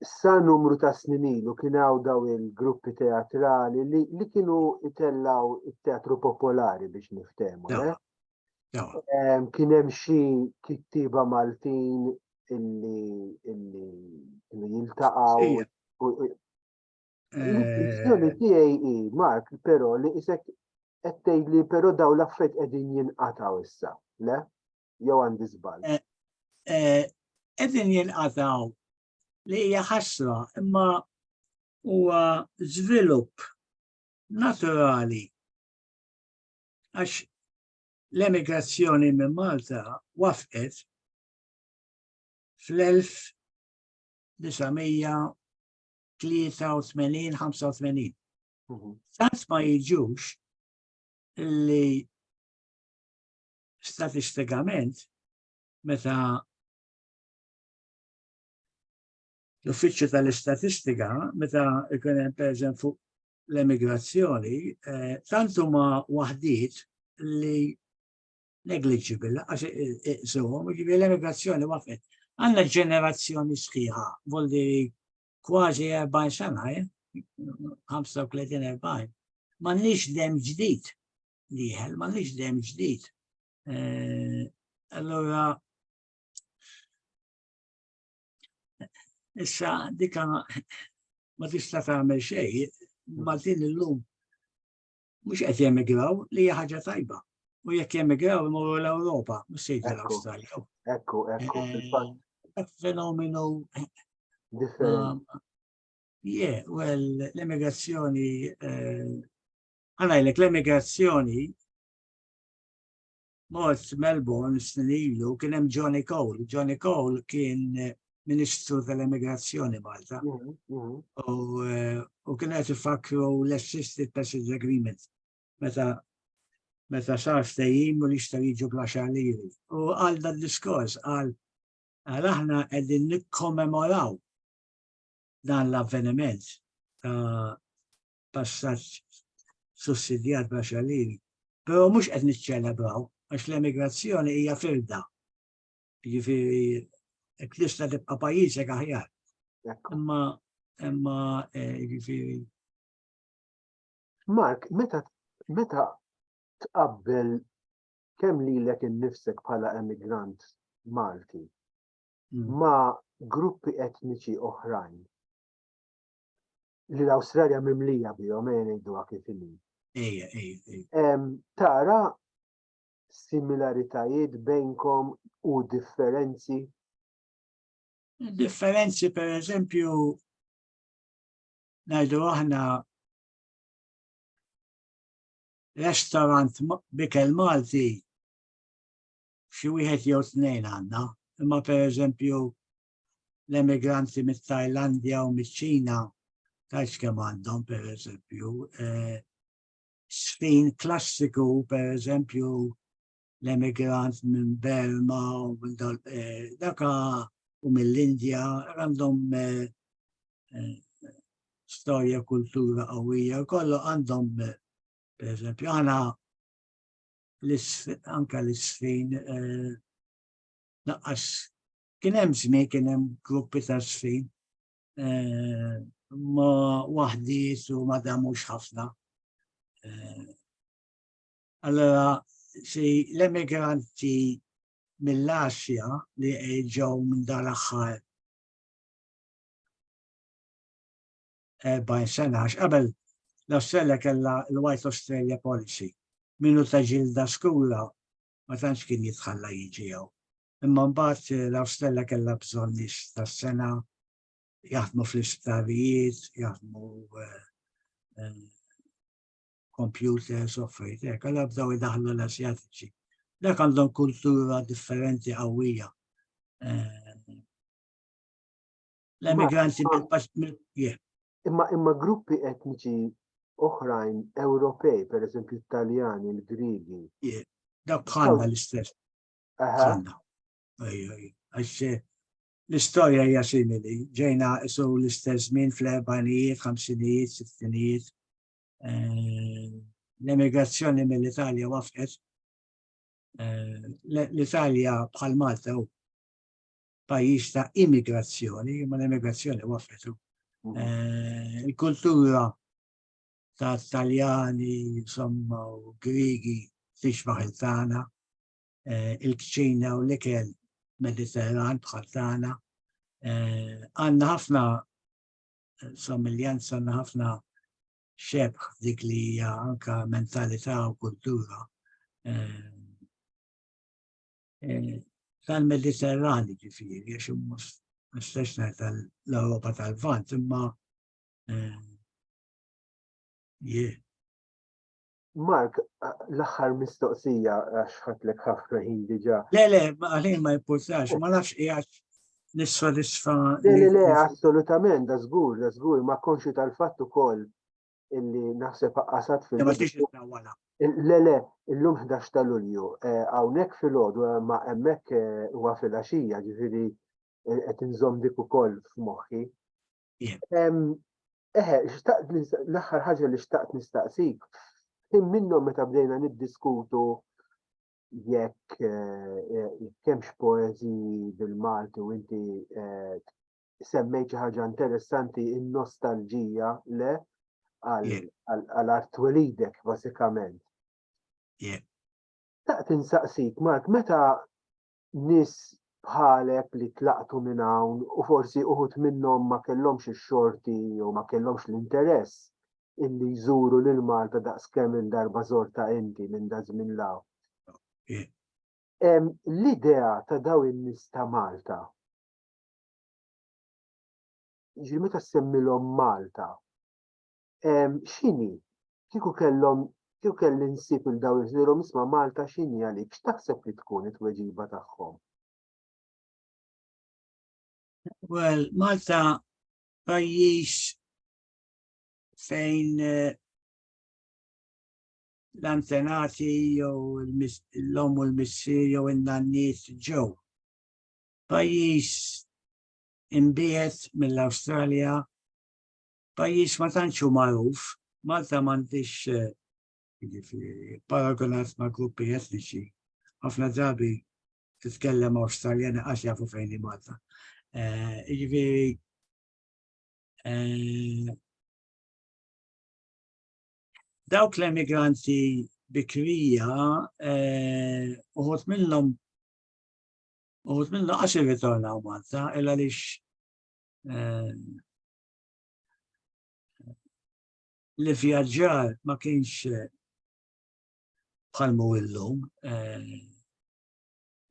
sa numru ta' snin ilu kien hawn daw il-gruppi teatrali li, li kienu itellaw it-teatru popolari biex niftehmu. Eh? Kien hemm xi kittiba Maltin illi illi kienu jiltaqgħu. Il-kwistjoni eh. tiegħi hi Mark, però li isek qed tgħidli però daw l-affarijiet qegħdin jinqatgħu issa, le? jew għandi żball? Eh, eh, qegħdin jinqataw li hija ħasra imma huwa żvilupp naturali għax l-emigrazzjoni minn Malta wafqet fl-1983-85. Mhm. Tant ma jiġux li Statistikament, meta l-Uffiċċju tal-Istatistika, meta ikun hemm pereżempju fuq l-emigrazzjoni, eh, tant huma waħdiet li negliġibil, għax iqsuhom, jiġifieri l-emigrazzjoni waqfet. Għandna ġenerazzjoni sħiħa, voldi kważi 40 sena, 35-40, eh? m'għandniex dem ġdid liħel, ma nix dem ġdid. Eh, allora, issa dika ma tista' tagħmel xejn, Maltin illum mhux qed jemigraw li hija ħaġa tajba. U jekk jemigraw imorru l-Ewropa, mhux se jidher l-Awstralja. Ekku, ekku, eh, fenomenu differenti. Um, yeah, well, l-emigrazzjoni eh, Għalajlek l-emigrazzjoni mod Melbourne snin ilu kien hemm Johnny Cole. Johnny Cole kien eh, Ministru tal-Emigrazzjoni Malta. Mhm, mhm. Eh, u kien qed ifakkru l-Assisted Passage Agreement meta meta sar ftehim u li xta jiġu bla xaliri. U għal dan diskors għal għal aħna qegħdin nikkommemoraw dan l-avveniment ta' passaġġ sussidjat bla xalliri, però mhux qed niċċelebraw għax l-emigrazzjoni hija firda. Jiġifieri qed tista' tibqa' pajjiżek aħjar. Imma imma eh, jiġifieri. Mark, meta meta tqabbel kemm lilek innifsek bħala emigrant Malti mm. ma' gruppi etniċi oħrajn. li l-Awstralja mimlija bihom ejja ngħiduha kif inhi. Ejja, ejja. Tara similaritajiet bejnkom u differenzi? Differenzi per eżempju ngħidu aħna restaurant bikel Malti xi wieħed jew tnejn għandna, imma per eżempju l-emigranti mit-Tajlandja u miċ-Ċina tajx kemm għandhom per eżempju eh, sfin klassiku per eżempju l-emigrant minn Berma u minn eh, daka u mill-Indja għandhom eh, storja kultura qawwija kollu għandhom per eżempju għana anka l-isfin naqqas Kien hemm żmien kien hemm gruppi ta' żfin eh, ma waħdiet u ma damux ħafna. Eh, allora, si l-emigranti mill-Asja li ġew minn dar aħħar 40 sena, qabel l-Australia kella l-White Australia Policy, minnu ta' ġilda skura ma tantx kien jitħalla jiġi jew. Imma mbagħad eh, l-Awstella kellha bżonn nies tas-sena jaħdmu fl-isptarijiet, jaħdmu eh, eh, computers u affarijiet hekk, għal bdew idaħlu l-Asjatiċi. Dak għandhom kultura differenti qawwija. L-emigranti mill-paċ Imma imma gruppi etniċi oħrajn Ewropej, per eżempju Italjani, il-Grigi. Dak bħalna l-istess. Għanna. Għax eh, l-istoria hija simili, ġejna isu l-istess żmien fl-erbanijiet, ħamsinijiet, sittinijiet. Eh, l-emigrazzjoni mill-Italja wafqet. Eh, L-Italja bħal Malta u pajjiż ta' immigrazzjoni, ma l-immigrazzjoni wafqet. Mhm. Il-kultura ta' Taljani, insomma, u Grigi, tixbaħ il-tana. eh, il-kċina u l-ikel mediterran bħal tagħna. Eh, għandna ħafna eh, somiljanz, għandna ħafna xebħ dik li hija anka mentalità u kultura tal-Mediterrani ġifiri, għax mhux mistaxna tal-Europa tal-Vant, imma eh, jie. Mark, l-aħħar mistoqsija għax ħatlek ħafna ħin diġà. Le, le, għalin ma jimpurtax, ma nafx qiegħed nissodisfa. Le, le, le, assolutament, da żgur, da żgur, ma konxi tal-fatt ukoll illi naħseb qasat fil Le, le, illum 11 ta' Lulju, eh, hawnhekk fil-għodu eh, ma hemmhekk eh, huwa fil-għaxija, ġifieri qed inżomm dik ukoll f'moħħi. Eħe, xtaqt l-aħħar ħaġa li xtaqt nistaqsik. Kien minnhom meta bdejna niddiskutu jekk eh, kemx poezi bil-Malti u inti eh, semmejt xi ħaġa interessanti in-nostalġija le għal art twelidek basikament. Taqt insaqsik, Mark, meta nies bħalek li tlaqtu minn hawn u forsi uħud minnhom ma kellhomx ix-xorti jew ma kellhomx l-interess illi jżuru lil Malta daqs kemm il-darba żortha inti minn daż-żmien 'l hawn. L-idea ta' dawn in-nies ta' Malta jiġifieri meta ssemmilhom Malta, x'inhi kieku kellhom kieku kelli nsib il dawn iżlilhom isma' Malta x'inhi għalik x'taħseb li tkun it-tweġiba tagħhom? Well, Malta pajjiż fejn eh, l-antenati jew l-lom u l-missir jew in-nanniet ġew. Pajjiż imbiet mill-Awstralja pajjiż ma tantx hu magħruf, Malta m'għandhiex jiġifieri paragunat ma' gruppi etniċi. Ħafna drabi titkellem Awstraljani għax jafu fejn hi Malta. Eh, jiġifieri eh, dawk l-emigranti bikrija eh, uħut minnhom uħut minnhom għax irritornaw Malta illa lix li vjaġġar ma kienx eh, bħalmu illum. Eh,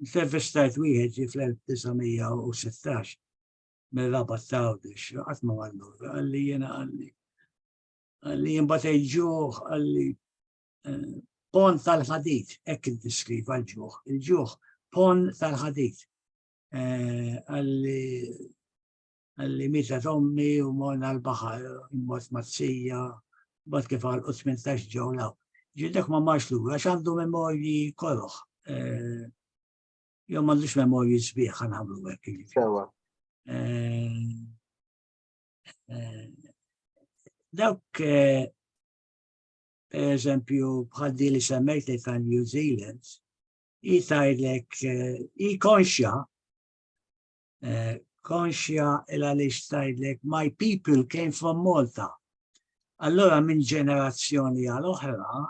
intervistajt wieħed ġi fl-1916 mill-rabat ta' għawdex, għatma għallu, għalli jena għalli. Għalli jimbatej ġuħ, għalli eh, pon tal-ħadit, ekk il-diskriv għal-ġuħ, il-ġuħ pon tal-ħadit. Għalli li mita tommi u morna l-bahar, immot mazzija, bat kif għal 18 ġewlaw. Ġildek ma marx l-ura, għandu memorji koroħ. Eh, Jom għandux memorji sbieħ għan għamlu għek. Sewa. Eh, eh, dawk, per eżempju, bħaddi li semmejt li ta' New Zealand, jitajlek, jikonxja Eh, konxja il għaliex tajdlek my people came from Malta. Allora minn ġenerazzjoni għal oħra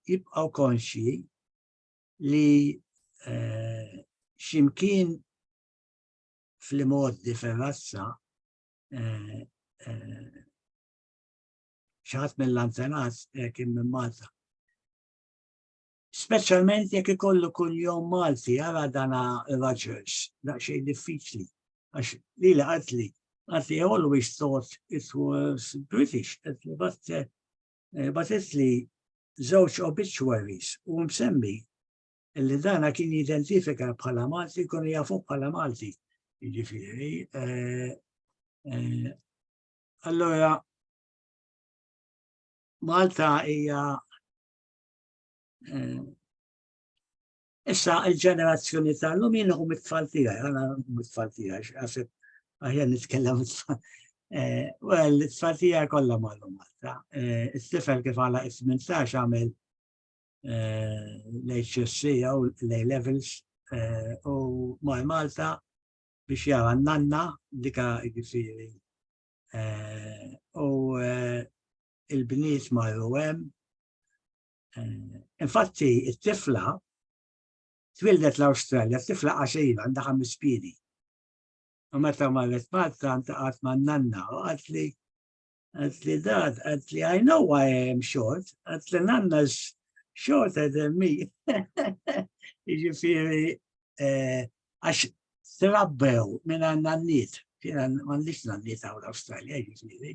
jibqaw konxji li eh, ximkien fl-imoddi ferrazza eh, xaħat mill-antenat kien minn Malta. Speċjalment jekk ikollu kunjom Malti, ara dana Rogers, daqsxejn diffiċli. Għax li li qatt li, qatt li always thought it was British, qed li batte, eh, batet li żewġ obituaries u msemmi li dana kien jidentifika bħala Malti, kun jafu bħala Malti. Ġifiri, eh, eh, allora Malta hija Issa il-ġenerazzjoni tal-lum jien u mit-tfal tiegħi, għana mit-tfal tiegħi, għasib għahja nitkellem mit-tfal. Eh, well, it-tfal tiegħi kollha mallum għalta. Eh, it-tifel kif għala 18 għamel eh, l-HSC jew l-A-levels u maj Malta biex jara nanna dika ġifiri. U il-bniet ma' hemm Eh, infatti, it-tifla twildet l-Awstralja, t-tifla għaxejla għandha ħames piedi. U meta marret Malta ntaqgħet ma' nanna u għat li għat li dad, għat li I know why I am short, għat li nanna shorter than me. Ġifiri, eh, għax trabbew minn għanna n-nit, kien għandix n-nit għaw l-Australia, ġifiri.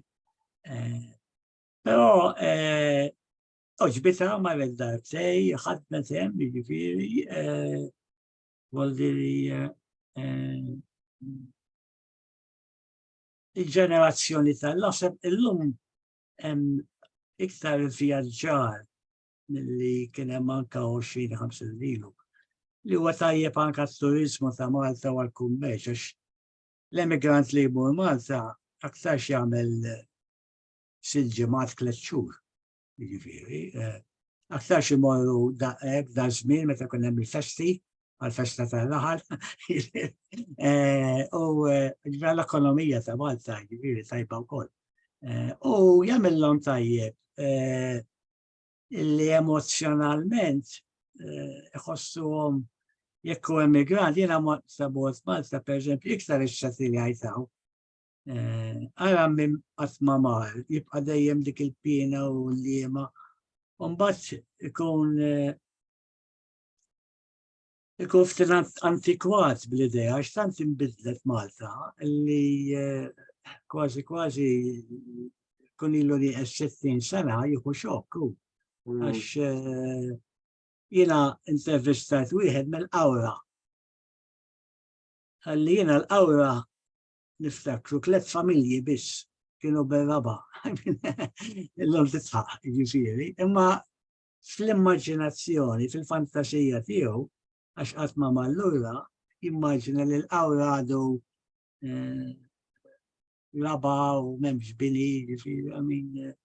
Eh, Però oġbita ma l-ekdar tej, ħadna tem, ġifiri, voldiri il-ġenerazzjoni tal-lasem illum iktar vjaġġar mill-li kienem anka 20-50 lilu li huwa tajjeb anka t-turizmu ta' Malta u l-kummerċ, għax l-emigrant li jmur Malta aktar jagħmel sitt ġimgħat tliet xhur. Jiġifieri, eh, aktar xi morru daqshekk da żmien meta kun hemm il-festi, għal-festa tal-laħal, eh, u l-ekonomija ta' Malta jiġifieri tajba wkoll. U jagħmilhom tajjeb li emozjonalment iħossuhom eh, jekk u emigrant, jena sabot Malta, per eżempju, iktar ix-xati li għajtaw, Ara minn qatt ma mar, jibqa' dejjem dik il-piena u l-liema. Mbagħad ikun ikun ftit antikwat bl-idea għax tant inbidlet Malta li eh, kważi kważi kun ilu li 60 sena jieħu xokk hu. Mm. Għax eh, jiena intervistat wieħed mill-qawra. Għalli jiena l-qawra niftakru tliet familji biss kienu bil-raba. Illum titħaq, ġifiri. Imma fl-immaġinazzjoni, fil-fantasija tiegħu, għax qatt ma mallura, jimmaġina li l-qawra għadu eh, raba u memx bini, ġifiri, għamin. Eh,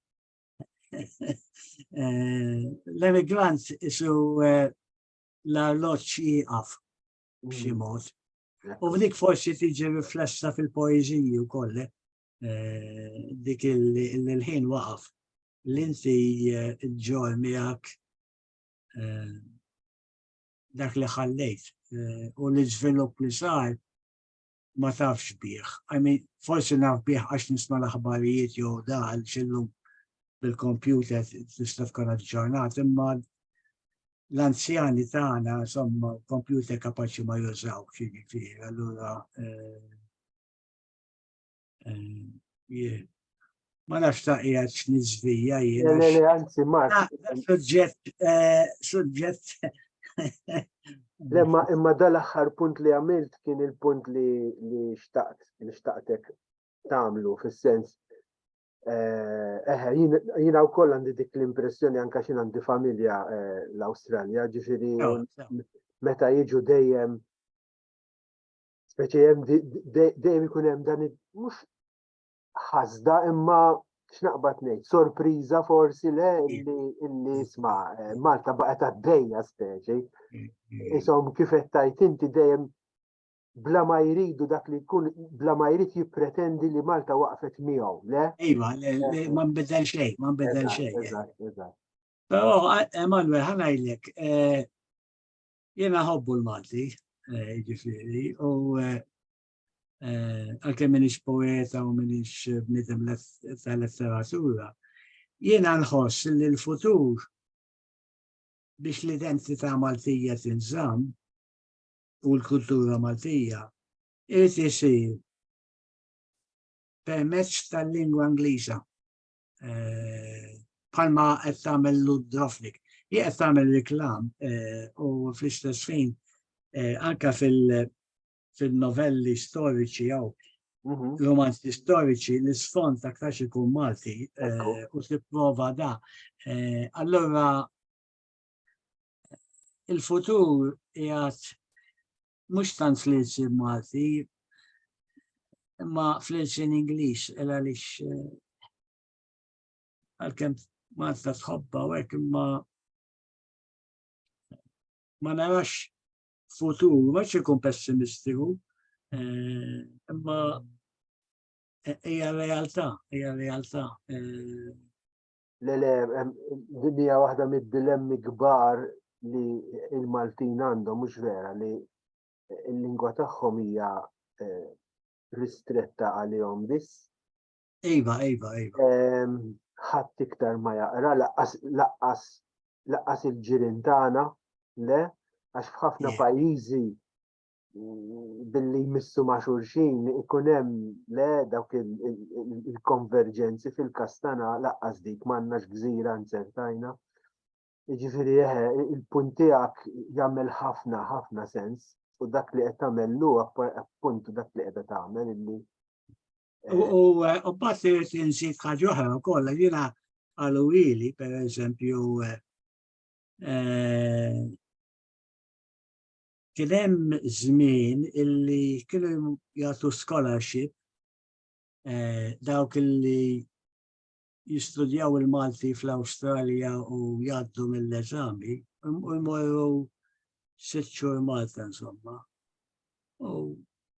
eh, l-emigrant isu l-arloċ jieqaf b'xi mm. mod U dik forsi tiġi riflessa fil-poeżiji wkoll eh, dik il-ħin waqaf l-inti eh, ġor miegħek eh, dak li ħallejt u li żvilupp li sar ma tafx bih. I mean, forsi naf bih għax nisma l-aħbarijiet jew daħal xillum bil-kompjuter tista' tkun ġurnat imma l-anzjani tagħna insomma kompjuter kapaċi ma jużaw ġifieri, allura eh, eh, ma nafx ta' qiegħed x'niżvija jien. Le le anzi Mark. Ah, suġġett eh, suġġett Lemma imma dal-aħħar punt li għamilt kien il-punt li xtaqt li xtaqtek tagħmlu fis-sens Eh, eħe, jina u koll għandi dik l-impressjoni anka xin għandi familja eh, l-Australja, ġifiri meta jiġu dejjem speċi jem dejjem ikun hemm dan mhux ħasda imma x'naqbad ngħid, sorpriża forsi le illi illi isma' eh, Malta baqgħet għaddejja speċi. Isom kif qed tajt inti dejjem bla ma jridu dak li jkun bla ma jrid jippretendi li Malta waqfet miegħu, le? Iva, ma nbidel xejn, ma nbidel xejn. Eżatt, eżatt. Però Emanuel ħanajlek eh, jiena ħobbu l-Malti, eh, ġifieri, u eh, għalkemm minix poeta u minix bnidem tal-letteratura, jiena nħoss li l-futur biex l-identità Maltija tinżamm u l-kultura Maltija irid isir permezz tal-lingwa Ingliża eh, bħalma qed tagħmel Ludrofnik. Hi qed tagħmel reklam eh, u fl-istess fin eh, anka fil-novelli storiċi jew mhm. romanzi storiċi l-isfond aktar ikun Malti u tipprova da. Allora il-futur jgħat mux tant fl-irsin Malti, imma fl-irsin Ingliż, illa li eh, għal-kem Malta tħobba u għek imma ma narax futur, ma ċekun pessimistiku, eh, imma hija realtà, hija realtà. Eh, Le, le, din hija waħda mid-dilemmi kbar li il-Maltin għandhom mhux vera li l-lingwa tagħhom hija eh, ristretta għalihom biss. Iva, iva, iva. Ehm, ħadd iktar ma jaqra, laqqas laqqas laqqas il-ġirien tagħna, le, għax f'ħafna pajjiżi billi jmissu ma' xulxin ikun hemm le dawk il-konverġenzi fil-kastana laqqas dik m'għandnax gżira nzertajna. Ġifieri eħe, il-punt tiegħek jagħmel ħafna ħafna sens u dak li qed tagħmel lu appunt dak li qed tagħmel illi. U eh, passi insik ħaġa oħra wkoll jiena għalu ili per eżempju eh, eh, Kien hemm żmien illi kienu jagħtu scholarship eh, dawk illi jistudjaw il-Malti fl-Awstralja u jgħaddu mill-eżami, u jmorru sitt xhur Malta insomma. U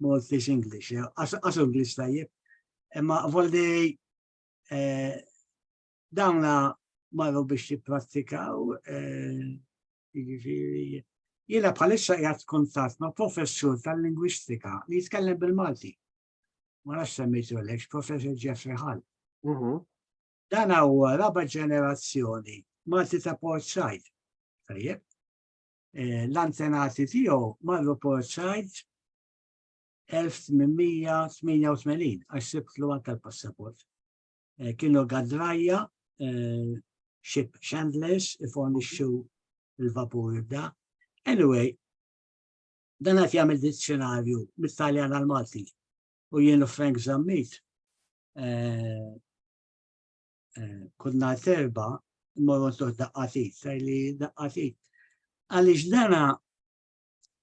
Maltese English, għasu English tajjeb. Imma volli eh, dawna marru biex jipprattikaw, eh, jiġifieri, jiena bħalissa jgħat kontat ma' professur tal-lingwistika li jitkellem bil-Malti. Ma nafx semmejtu l professor Jeffrey Hall. Mhm. Dan huwa raba ġenerazzjoni Malti ta' Port Said. Tajjeb. eh, l-antenati tiegħu marru Port Said 1888 għax sibtlu anke l-passaport. Eh, kienu gadrajja eh, ship chandlers ifornixxu l-vapur da. Anyway, dan qed jagħmel dizzjonarju mit-Taljan għal Malti u jienu Frank Zammit eh, kull nhar serba mmorru ntuħ daqqatit, sar li daqqatit. Għaliex dana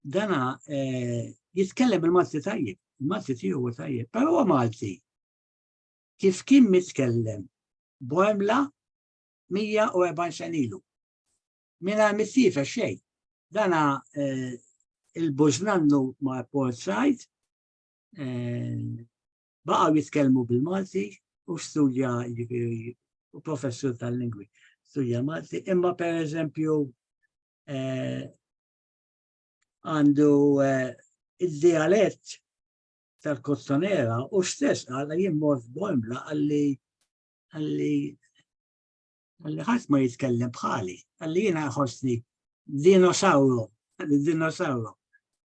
dana eh, jitkellem il-Malti tajjeb, il-Malti tiegħu tajjeb, però huwa Malti. Kif kien mitkellem Boemla 140 sen ilu. Mina missifa xej. Dana eh, il-bużnannu ma' port sajt, baqgħu jitkellmu bil-Malti u studja jiġifieri u professur tal-lingwi studja Malti, imma per eżempju eh, għandu eh, il-dialett tal-kottonera u stess għalla jimmor f'bomla għalli għalli Għalli ħadd ma jitkellem bħali, għalli jiena ħossni dinosawru, għalli dinosawru.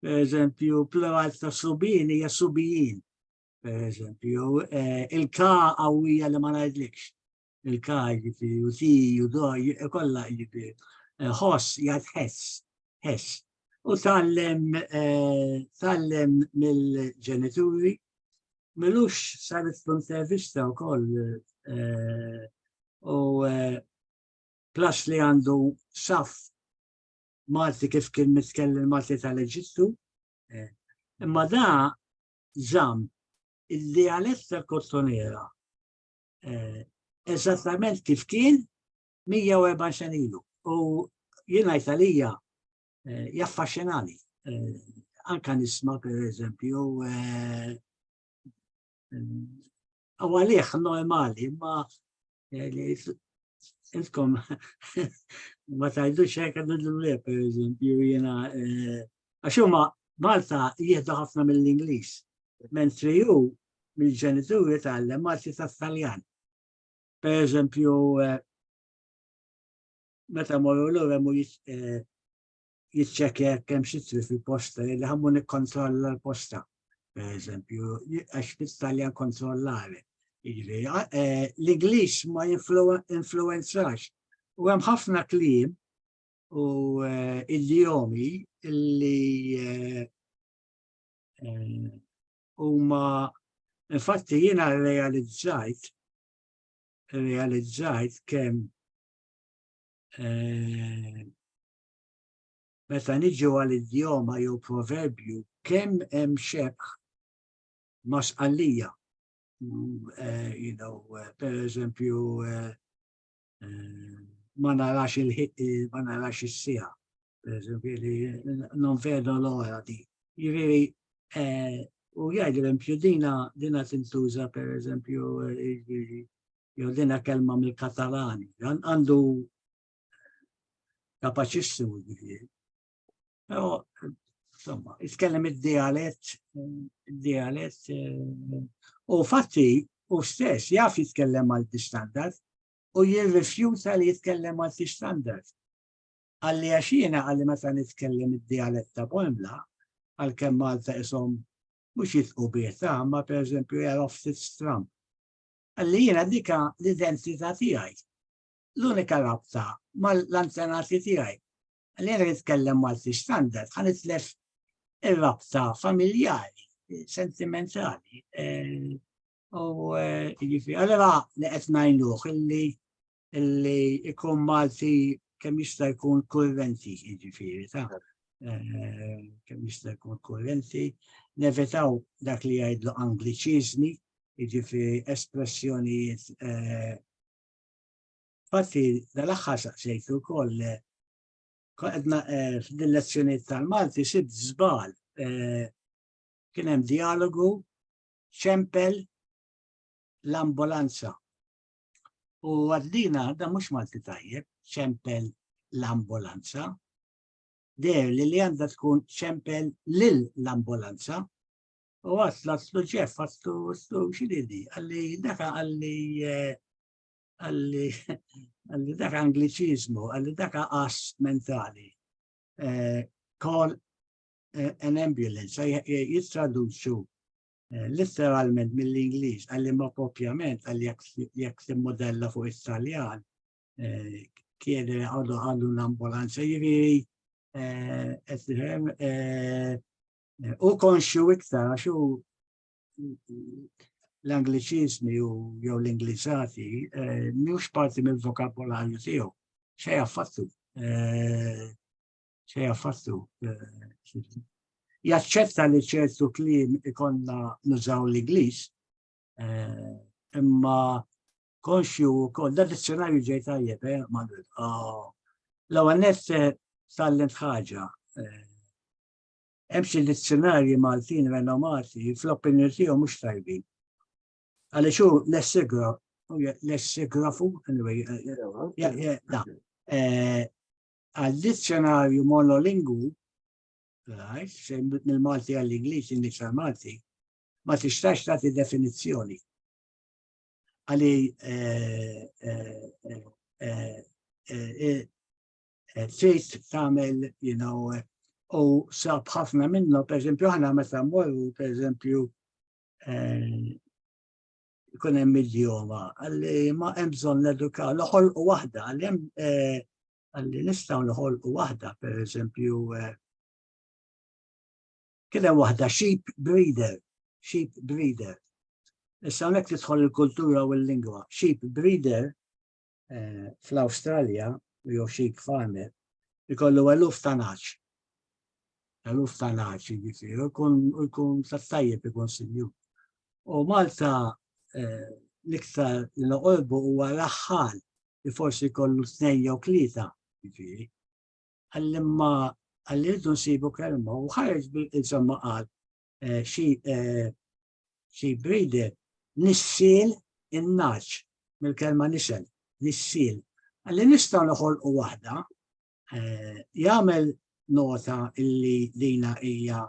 Per eżempju, plural ta' subin hija subijin. Per eżempju, eh, il-ka għawija li ma ngħidlikx. Il-ka jiġifieri u ti u doj kollha jiġifieri. Eh, ħoss jgħid ħess, ħess. u tallem eh, tallem mill-ġenituri milux saret fl-intervista u koll eh, u eh, plus li għandu saf Malti kif kien mitkellem Malti tal-Eġittu imma da zam il-dialett tal-kottonera eżattament kif kien 104 sen ilu u jien ngħid għalija eh, jaffaxxinani. Eh, anka nisma per eżempju eh, u għalih normali ma intkom ma tajdux hekk nidlu per eżempju jiena għax huma Malta jieħdu ħafna mill-Ingliż, mentri hu mill-ġenituri tal-Malti tat-Taljan. Per eżempju, eh, meta morru l-ura mu eh, jitċekja kemm xitri fil-posta, li ħammu nikkontrolla l-posta, per eżempju, għax fit-Taljan kontrollare. Eh, L-Inglis ma influenzax. U hemm ħafna klim u idiomi li huma infatti jiena realizzajt realizzajt kemm eh, meta niġu għal idjoma jew proverbju kemm hemm xebħ ma' sqallija. Mm, eh, you know, eh, per eżempju, eh, ma narax il-ħiq, eh, ma narax is-sija, per eżempju, li non vedo l-ora di. Ġifieri, eh, u jgħid l-empju dina dina tintuża per eżempju jew dina kelma mill-Katalani, għandu kapaċissimu ġifieri. Insomma, jitkellem id-dialett, id-dialett, eh, u fatti u stess jaf jitkellem malti standard u jirrifjuta li jitkellem malti standard. Għalli għaxina għalli meta nitkellem id-dialett ta' Bonla, għal kem Malta isom mux jitqu bieta, ma per eżempju jgħaraf ftit stram. Għalli jina dika l-identità tijaj. L-unika rabta ma l-antenati tijaj. Għalli jena nitkellem Malti standard, għan itlef il-rabta familjari, sentimentali. Eh, u eh, jifi, għallera li qed ngħinuh illi illi ikun Malti kemm jista' jkun kurrenti, jiġifieri ta' eh, kemm jista' jkun kurrenti, nevitaw dak li jgħidlu angliċiżmi, jiġifieri espressjonijiet Fatti, dal-aħħar saqsejt ukoll eh, qedna eh, f'din lezzjoniet tal-Malti sid żbal eh, kien hemm dialogu ċempel l-ambulanza. U għaddina da mhux Malti tajjeb, ċempel l-ambulanza. Der li li għandha tkun ċempel lil l-ambulanza. U għasla s-suġef għastu s-su xididi, għalli daka għalli eh, għalli għalli dak angliċizmu, għalli dak għas mentali. Eh, call eh, an ambulance, jittraduċu eh, literalment mill-Inglis, għalli ma propjament, għalli jek modella fuq Italjan, kiede għadu għadu l-ambulanza jiviri, u konxu iktar, għaxu l-Angliċiżmi u jew l-Ingliżati eh, mhux parti mill-vokabolarju tiegħu. Xej affattu. Eh, xej affattu. Eh, jaċċetta li ċertu kliem ikonna nużaw l-Ingliż, imma konxju kol, da dizzjonarju ġej tajjeb, eh, Manuel. Ah, L-għanet tal-lent ħagġa, Hemm xi dizzjunarji Maltin renomati li fl-opinjoni tiegħu mhux tajbin. Għaliex hu lessigrafu, anyway, għal-dizzjonarju monolingwu, mill-Malti għall-Ingliż, Ingliż għall-Malti, ma tistax tagħti definizzjoni. Għalli eh, trid tagħmel you know u sab ħafna minnhom pereżempju aħna meta mmorru pereżempju eh, ikun hemm idioma għalli ma hemm bżonn nedukaw noħolqu waħda għalli hemm eh, għalli nistgħu noħolqu waħda pereżempju kien hemm waħda sheep breeder, sheep breeder. Issa hawnhekk tidħol il-kultura u l-lingwa. Sheep breeder eh, fl-Awstralja u jew xi farmer ikollu eluf ta' naċ. Eluf ta' naċ, jiġifieri, u jkun ta' tajjeb ikun sinju. U Malta eh, l-iktar l-qolbu huwa l-aħħar li forsi kollu tnejn jew tlieta, jiġifieri. Għallimma għalli rridu nsibu kelma u ħareġ insomma qal eh, xi eh, Xi breeder, nissiel in-nagħaġ, mill-kelma nisel, nissiel. Li nistgħu noħolqu waħda, eh, jagħmel nota illi dina hija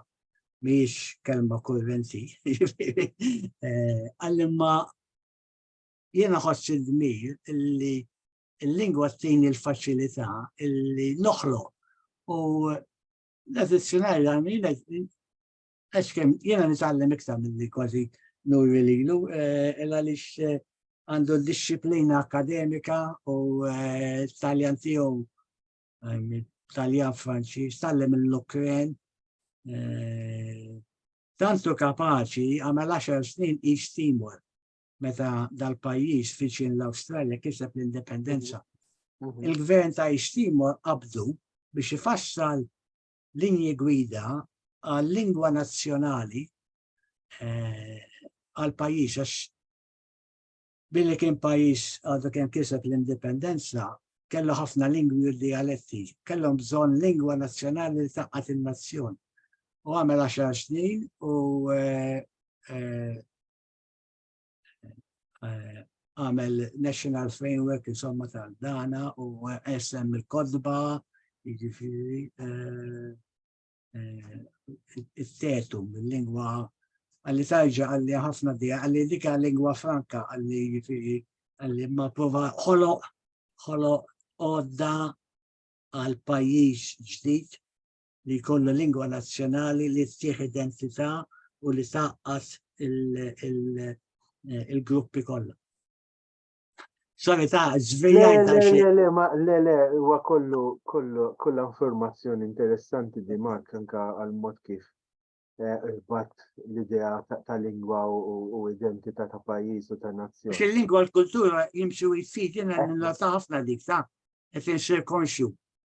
mhijiex kelma kurrenti, eh, għallimma jiena ħoss id-dmir illi il-lingwa t-tini l-faċilità illi noħloq u l-eżizzjonari għamil Għax kem, jena nitgħallem iktar minn li kważi nuri lilu, eh, illa li eh, għandu disciplina akademika u eh, taljan tiegħu taljan Franċiż, tallem l-Ukren. Tantu kapaċi għamel 10 snin East Timor meta dal-pajjiż fiċin l-Awstralja kiseb l-indipendenza. Mhm. Mhm. Il-gvern ta' East Timor qabdu biex ifassal linji gwida għal-lingwa nazzjonali eh, għal-pajis, għax billi kien pajis għadu kien kiseb l-indipendenza, kellu ħafna lingwi u dialetti, kellhom bżonn lingwa nazzjonali li taqqat il-nazzjon. U għamel 10 snin u eh, eh, eh, għamel National Framework insomma tal-dana u SM il-kodba jiġifieri eh, eh, it-tetu mill-lingwa għalli tarġa għalli ħafna di għalli dika lingwa franka għalli jiġifieri għalli ma prova ħoloq ħoloq għodda għal pajjiż ġdid li jkollha lingwa nazzjonali li ttieħ identità u li taqqas il-gruppi kollha. Sorry ta' żvijaj ta' xi. Le, le, ma, le, le, huwa kollu, kollu, kollha informazzjoni interessanti di Mark anka għal mod kif eh, irbat l-idea ta' lingwa u identità ta' pajjiż u ta' nazzjoni. Xi lingwa l-kultura jimxu jfid jiena eh. nilata ħafna dik ta' qed insir konxju.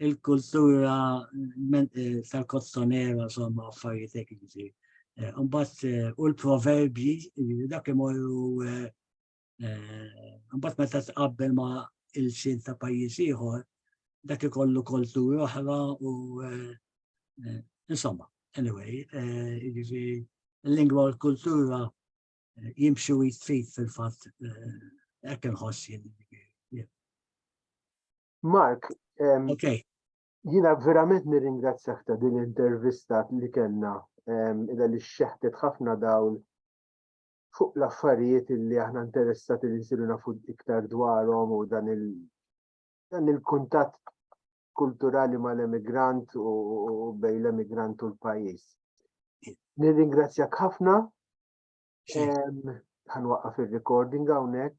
il-kultura eh, tal-kozzonera, somma, affarijiet ekkizi. Eh, Umbat, eh, u l-proverbji, dak imorru, umbat meta tqabbel ma il-sin ta' pajjiż ieħor, dak ikollu kultura oħra u insomma, anyway, l-lingwa u l-kultura jimxu jitfit fil-fatt ekk nħossin. Mark, okay. jina verament nirringrazzjak ta' din l-intervista li kellna illa li xeħtet ħafna dawl fuq l-affarijiet li aħna interessati li nsiru nafu iktar dwarhom u dan il dan il-kuntatt kulturali mal-emigrant u bej l-emigrant u l-pajis. Nirringrazzjak ħafna. Ħanwaqqaf ir-recording hawnhekk.